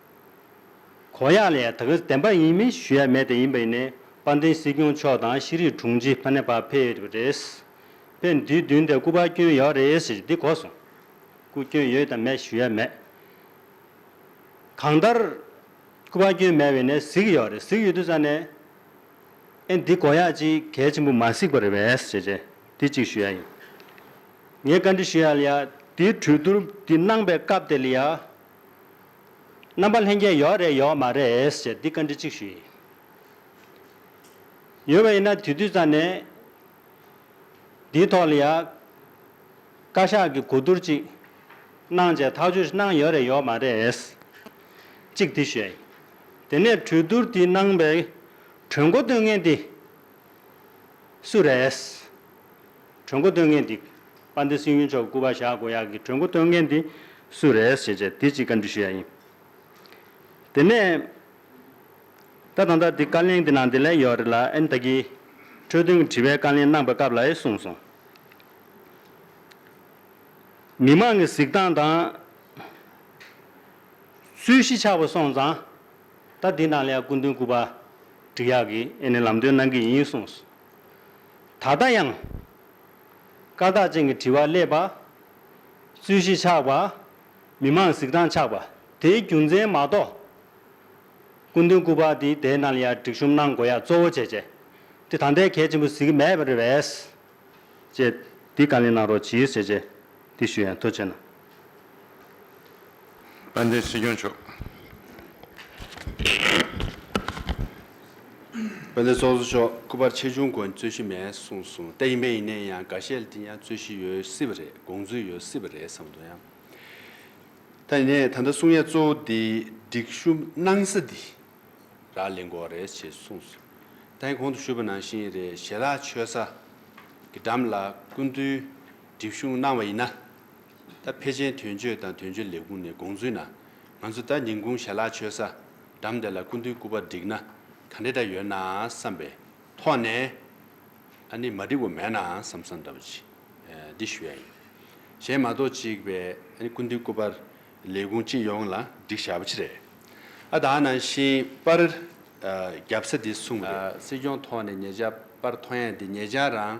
གོ་ཡག་ལས་ད་གི་བདེན་པ་ཡིན་མིན་ཞུ་ཡ་མེད་དེ་ཡིན་པ་ཡིན་ནས་དཔལ་ལྡན་སྲིད་སྐྱོང་མཆོག་དང་ཤེས་རིག་དྲུང་ཆེ་ཕ་ནེ་བ་ཕེ་ཡོད་པ་རེད། ཕེ་འདིའི་མདུན་དེ་སྐུ་པར་སྐྱོན་ཡོད་རེད་ཟེར་གྱི་འདི་གོ་སོང། སྐུ་སྐྱོན་ཡོད་དང་མེད་ཞུ་ཡ་མེད། གང་ལྟར། སྐུ་པར་སྐྱོན་མེད་བས་ནས་གཟིགས་ཀྱི་ཡོད་རེད་གཟིགས་ཡོད་དུས་ཙང་ནས། ཨེ་འདི་གོ་ཡག་ཅིག་གལ་ཆེན་པོ་མ་གཟིགས་པར་རེད་བས་ཟེར་གྱི་འདི་གཅིག་ཞུ་ཡ་ཡིན། ངས་བཀའ་འདྲི་ཞུ་ཡ་ལ་ཡ་འདིའི་གྲོས་བསྡུར་འདི་གནང་པའི་སྐབས་དེ་ལ་ཡ། རྣམ་པ་ལྷན་རྒྱས་ཡོད་རེད་ཡོད་མ་རེད་ཟེར་འདི་བཀའ་འདྲི་གཅིག་ཞུ་ཡི་ཡོད་བ་ཡིན་ན་དུས་དུས་ཙམ་ནས་འདིའི་ཐོག་ལ་ཡང་བཀའ་ཤག་གི་གོ་བསྡུར་གཅིག་གནང་བྱས་ཐག་གཅོད་གནང་ཡོད་རེད་ཡོད་མ་རེད་གཅིག་འདི་ཞུ་ཡི་དེ་ནས་གྲོས་བསྡུར་འདི་གནང་པའི་གྲོས་འགོ་བཏོན་མཁན་དེ་སུ་རེད། གྲོས་མགོ་སྟོན་མཁན་འདི། པ་འདི་སིན་ཡུལ་མཆོག་སྐུ་པར་བཞག་དགོས་ཡག་གི་གྲོས་མགོ་སྟོན་མཁན་འདི་སུ་རེད་ཞེས་བྱས་དེ་ཅིག་བཀའ་འདྲི་ཞུ་ཡག་ཡིན། དེ་ནས། ད་དང་ད་འདི་བཀའ་ལན་འདི་ནང་དེ་ལན་ཡོད་རེད་ལ་ཨེ་ད་གི། འཕྲོས་དོན་གི་དྲི་བའི་བཀའ་ལན་གནང་པའི་སྐབས་ལ་ཨེ་གསུངས་སོང། མི་མང་གི་གཟིགས་སྟངས་དང། རྩོད་གཞི་ཆགས་པ་སོང་ཙང། ད་འདི་ནང་ལས་སྐུ་མདུན་སྐུ་པར་འདྲི་ཡག་གི་ཨེ་ནི་ལམ་སྟོན་གནང་གི་ཡིན་གསུངས། ད་ལྟ་ཡང། ཀ་དག་ཅན་གྱི་དྲི་བ་སླེབས་པ། རྩོད་གཞི་ཆགས་པ། མི་མང་གཟིགས་སྟངས་ཆགས་པ་དེའི་རྒྱུ་མཚན་མ་གཏོགས། སྐུ་མདུན་སྐུ་པར་འདི་བསྡད་ན་ལ་ཡར་སྒྲིག་གཤོམ་གནང་དགོས་ཡ་གཙོ་བོ་བྱས་བྱས་དེ་ད་ལྟའི་གལ་ཆེན་པོ་གཟིགས་མེད་པ་རེད་བས། ཅེས་འདི་བཀའ་ལན་གནང་རོགས་གྱིས་ཞེས་བཅས་འདི་ཞུ་ཡང་ཐུགས་ཆེ་གནང། དཔལ་ལྡན་སྲིད་སྐྱོང་མཆོག། དཔལ་ལྡན་ཚོགས་གཙོ་མཆོག་སྐུ་པར་ཆེ་ཆུང་དགོན་རྩོད་གཞི་མེད་གསུངས་སོང་ལྟ་ཡིན་པས་ཡིན་ནའི་ཡང་འགའ་ཤས་ལ་དེ་ཡང་རྩོད་གཞི་ཡོད་སྲིད་པ་རེད་དགོངས་ཚུལ་ཡོད་སྲིད་པ་རེད་བསམ་འདུག་ཡང་ད་ཡིན་ནའི་ད་ལྟ་གསུང་ཡ་གཙོ་བོ་དེ་སྒྲིག་ཞུ་གནང་ས་དེ་རག་ལས་འགོ་བ་རེད་ཅེས་གསུངས་སོང་ད་ཡིན་གོང་དུ་ཞུས་པ་ནང་བཞིན་རེད་ཞལ་ལག་མཆོད་ས་གི་འགྲམ་ལ་སྐུ་མདུན་སྒྲིག་ཞུ་གནང་བ་ཡིན་ན། ད་ཕེ་ཆེན་དོན་གཅོད་དང་དོན་གཅོད་ལས་ཁུངས་ནས་དགོངས་ཚུལ་ན། ང་ཚོ་ད་ཉིན་གུང་ཞལ་ལག་མཆོད་ས་འགྲམ་དེ་ལ་སྐུ་མདུན་སྐུ་པར་བསྒྲིགས་ན་ག་འདྲ་འདྲ་ཡོད་ནའང་བསམ་པའི་ཐོག་ནས། ཨ་ནི་མ་བསྒྲིགས་པ་མེད་ནའང་བསམ་བསམ་འདྲ་པོ་ཅིག་འདི་ཞུ་ཡ་ཡིན། གཞན་མ་གཏོགས་ཅིག་པའི་ཨ་ནི་སྐུ་མདུན་སྐུ་པར་ལས་ཁུངས་སྤྱི་ཡོངས་ལ་བསྒྲིགས་བཞག་པ་ཅི་རེད། ཨ་ད་ནང་བཞིན་པར་བརྒྱབ་ས་འདི་གསུངས་རེད། སྲིད་སྐྱོང་ཐོག་ནས་ཉེ་ཆར་པར་ཐོ་ཡངས་འདི་ཉེ་ཆར་རང།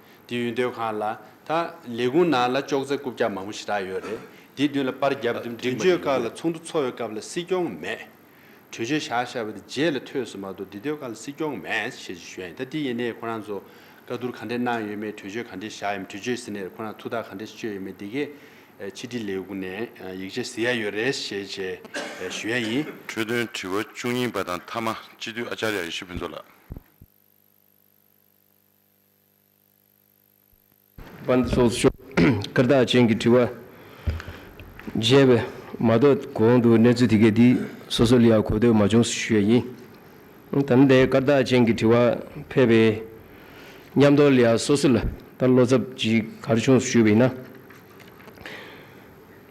དེ་ཡུལ་སྡོད་ཁང་ལ་ད། ལས་ཁུངས་ནང་ལ་ལྕོག་ཙེ་རྐུབ་བཀྱག་མང་པོ་ཞིག་རག་ཡོད་རེད། དེའི་མདུན་ལ་པར་རྒྱབ་བསྡུ་འདྲིས་མ་ཡིན་ཡོད། ཚོགས་འདུ་ཚོགས་ཡོད་སྐབས་ལ་སྲིད་སྐྱོང་མེད། གྲོས་ཆོད་བཞག་བཞག་པ་དེ་རྗེས་ལ་ཐོས་སུ་མ་གཏོགས་འདི་སྡོད་ཁང་ལ་སྲིད་སྐྱོང་མེད་ཞེས་ཞུས་ཡིན་ད་དེ་ཡིན་ནའི་ཁོ་རང་ཚོ་བཀའ་བསྡུར་ག་འདྲས་གནང་ཡོད་མེད་གྲོས་ཆོད་ག་འདྲས་བཞག་ཡོད་མེད་གྲོས་ཆོད་ཟིན་ནས་ཁོ་རང་ཐུགས་ཐག་ག་འདྲས་གཅོད་ཡོད་མེད་དེ་གས་ཕྱི་དྲིལ་ལས་ཁུངས་ནས་ཡིག་ཆ་ཟིན་ཡ་ཡོད་རེད་ཞེས་བྱས་ཞུས་ཡ་ཡིན། འཕྲོས་དོན་དྲི་བ་བཅུ་གཉིས་པ་དང་མཐའ་མ་སྤྱི་འཐུས་ཨ་ཅཱརྱ་ཡེ་ཤེས་ཕུན་ཚོགས་ལགས། པ་འདི་སོགས་སུ་ཤོག། སྐར་རྟགས་ཅན་གྱི་དྲི་བ། རྒྱས་པས། མ་གཏོགས་གོང་དུ་གནས་ཚུལ་དེ་གའི་དེའི་སོ་སོ་ལ་ཡང་གོ་ཐོས་མ་བྱུང་ཞུ་བ་ཡིན། དམ་ལྡན་སྐར་རྟགས་ཅན་གྱི་དྲི་བ། ཕལ་པའི། ཉམས་རྟོགས་ལ་ཡང་སོ་སོ་ལ་ལྟར་བློ་འཚབ་ཅི་གར་བྱུང་ཞུ་བ་ཡིན་ན།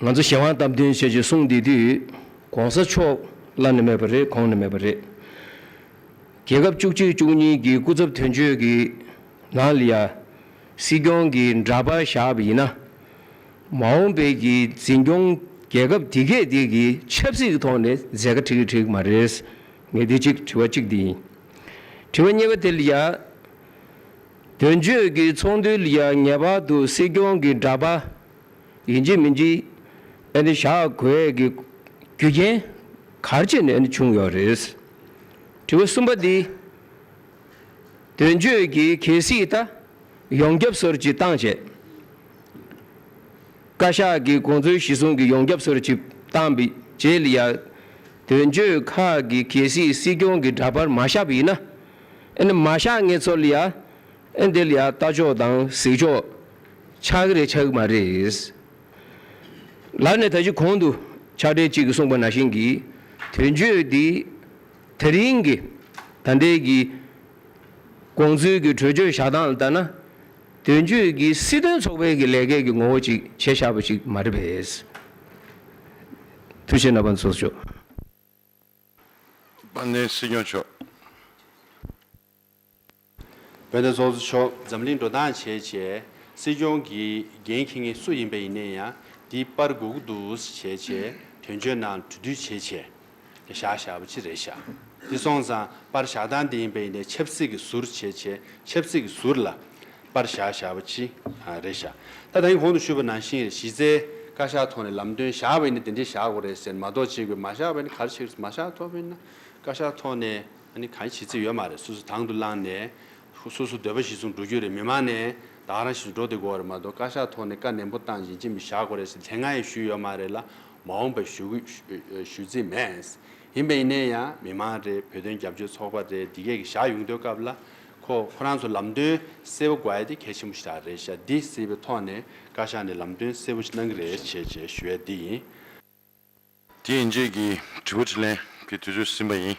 ང་ཚོ་གཞན་དབང་སྟབས་བསྟུན་བྱས་ཅི་གསུངས་དེ་དུས་གོང་ས་མཆོག་བླ་ནས་མེད་པ་རེད་གོང་ནས་མེད་པ་རེད། རྒྱལ་ཁབ་བཅུ་གཅིག་བཅུ་གཉིས་ཀྱི་སྐུ་ཚབ་དོན་གཅོད་ཀྱི་ནང་ལ་ཡང་སྲིད་སྐྱོང་གི་འདྲ་པར་བཞག་པ་ཡིན་ན། མ་འོངས་པའི་གྱི་འཛིན་སྐྱོང་རྒྱལ་ཁབ་དེ་གས་དེ་གི་ཆབ་སྲིད་ཀྱི་ཐོག་ནས་མཛད་དཀའ་ཁྲིགས་ཁྲིགས་མ་རེད། ངས་དེ་གཅིག་དྲི་བ་གཅིག་དེ་ཡིན། དྲི་བ་གཉིས་པ་དེ་ལ་ཡང། དོན་གཅོད་ཀྱི་ཚོགས་འདུའི་ལ་ཡང་ངེས་པར་དུ་སྲིད་སྐྱོང་གི་འདྲ་པར། ཡིན་གཅིག་མིན་གཅིག་བཞག་དགོས་ཀྱི་རྒྱུ་རྐྱེན་གར་ཅི་ནས་བྱུང་ཡོད་རེད། དྲི་བ་གསུམ་པ་འདི་དོན་གཅོད་ཀྱི་གལ་སྲིད་ད་ཡོང་རྒྱབ་སོར་གྱིས་བཏང་བྱས། བཀའ་ཤག་གི་གོང་ཚོའི་གཞི་བཟུང་གི་ཡོང་རྒྱབ་སོར་གྱིས་བཏང་བི་བྱས་ལི་ཡ་དོན་གཅོད་ཁག་གི་གལ་སྲིད་སྲིད་སྐྱོང་གི་འདྲ་པར་མ་བཞག་བི་ཡིན་ན། ཨེ་ནི་མ་བཞག་ངེས་ཚོར་ལི་ཡ་ཨེ་འདི་ལི་ཡ་ལྟ་ཕྱོགས་དང་གཟིགས་ཕྱོགས། ཆགས་རེད་ཆགས་མ་རེད། ལར་ནས་ད་གཞི་གོང་དུ་ཕྱག་སྦྲེལ་གཅིག་གིས་གསུངས་པ་ནང་བཞིན་གྱི་དོན་བརྗོད་དེ་དེ་རིང་གི་ད་ལྟའི་གི་དགོངས་ཚུལ་གྱི་གྲོས་ཆོད་བཞག་སྟངས་ལྟར་ན་དོན་བརྗོད་ཀྱི་སྲིད་དོན་ཚོགས་པའི་གི་ལས་ཀའི་གི་ངོ་བོ་ཅིག་བྱེད་བཞག་པ་ཞིག་མ་རེད་པས། ཐུགས་ཆེ་ན་པ་མཚོ་མཆོག། དཔལ་ལྡན་སྲིད་སྐྱོང་མཆོག། བོད་ནས་ཚོགས་གཙོ་མཆོག་འཛམ་གླིང་འགྲོ་སྟངས་བྱས་བྱས་སྲིད་སྐྱོང་གི་འགན་འཁྱེར་ངེས་སུ་ཡིན་པ་ཡིན་ནས་ཡང་འདི་པར་སྒུག་འདུག་བྱས་བྱས་དོན་གཅོད་ནང་གྲོས་བསྡུས་བྱས་བྱས་ཀྱི་བཞག་བཞག་པ་ཅི་རེད་བཞག་འདི་སོང་ཙང་པར་བཞག་སྟངས་འདི་ཡིན་པ་ཡིན་ནས་ཆབ་སྲིད་ཀྱི་ཟུར་བྱས་བྱས་ཆབ་སྲིད་ཀྱི་ཟུར་ལ་པར་བཞག་བཞག་པ་ཅི་རེད་བཞག་ད་ད་ཡིན་གོང་དུ་ཞུས་པ་ནང་བཞིན་གཞི་རྩའི་བཀའ་ཤག་ཐོག་ནས་ལམ་སྟོན་བཞག་པ་ཡིན་ནས་འདི་འདྲས་བཞག་དགོས་རེད་ཟེར་མ་གཏོགས་ཅིག་པའི་མ་བཞག་པ་ཡིན་ན་ག་རེ་བྱེད་རེད་མ་བཞག་ཐོག་པ་ཡིན་ན་བཀའ་ཤག་ཐོག་ནས། ཨ་ནི་གང་བྱེད་རྩིས་ཡོད་མ་རེད་སོ་སོ་དང་དུ་བླངས་ནས། སོ་སོ་འདོད་པ་ཞིག་ཟུང་འགྲོ་རྒྱུ་རེད་མི་མང་ནས་བདག་རང་ཞིག་འགྲོ་དེ་དགོས་རེད་མ་གཏོགས་བཀའ་ཤག་ཐོག་ནས་བཀའ་ནན་པོ་བཏང་བཞིན་ཅི་མི་བཞག་དགོས་རེད་ཟེར་ལན་ང་ཡང་ཞུས་ཡོད་མ་རེད་ལ་མ་འོངས་པར་ཞུ་ཞུ་རྩིས་མེད། ཡིན་པ་ཡིན་ནས་ཡང་མི་མང་རེད་བོད་དོན་རྒྱབ་སྐྱོར་ཚོགས་པ་རེད་འདི་གས་ཀྱི་བཞག་ཡོང་དོན་སྐབས་ལ། ཁོ་ཁོ་རང་ཚོ་ལམ་སྟོན་གསལ་བོ་དགོས་ཡ་དེ་གལ་ཆེན་པོ་ཞིག་རག་རེད་བཞག་འདི་གསལ་བའི་ཐོག་ནས་བཀའ་ཤག་ནས་ལམ་སྟོན་གསལ་བོ་ཞིག་གནང་གི་རེད་བྱས་བྱས་ཞུ་ཡ་འདི་ཡིན། དེ་ཡིན་རྗེས་ཀྱི་དྲི་བ་དྲིས་ལན་གྱི་དུས་ཚོད་ཟིན་པ་ཡིན།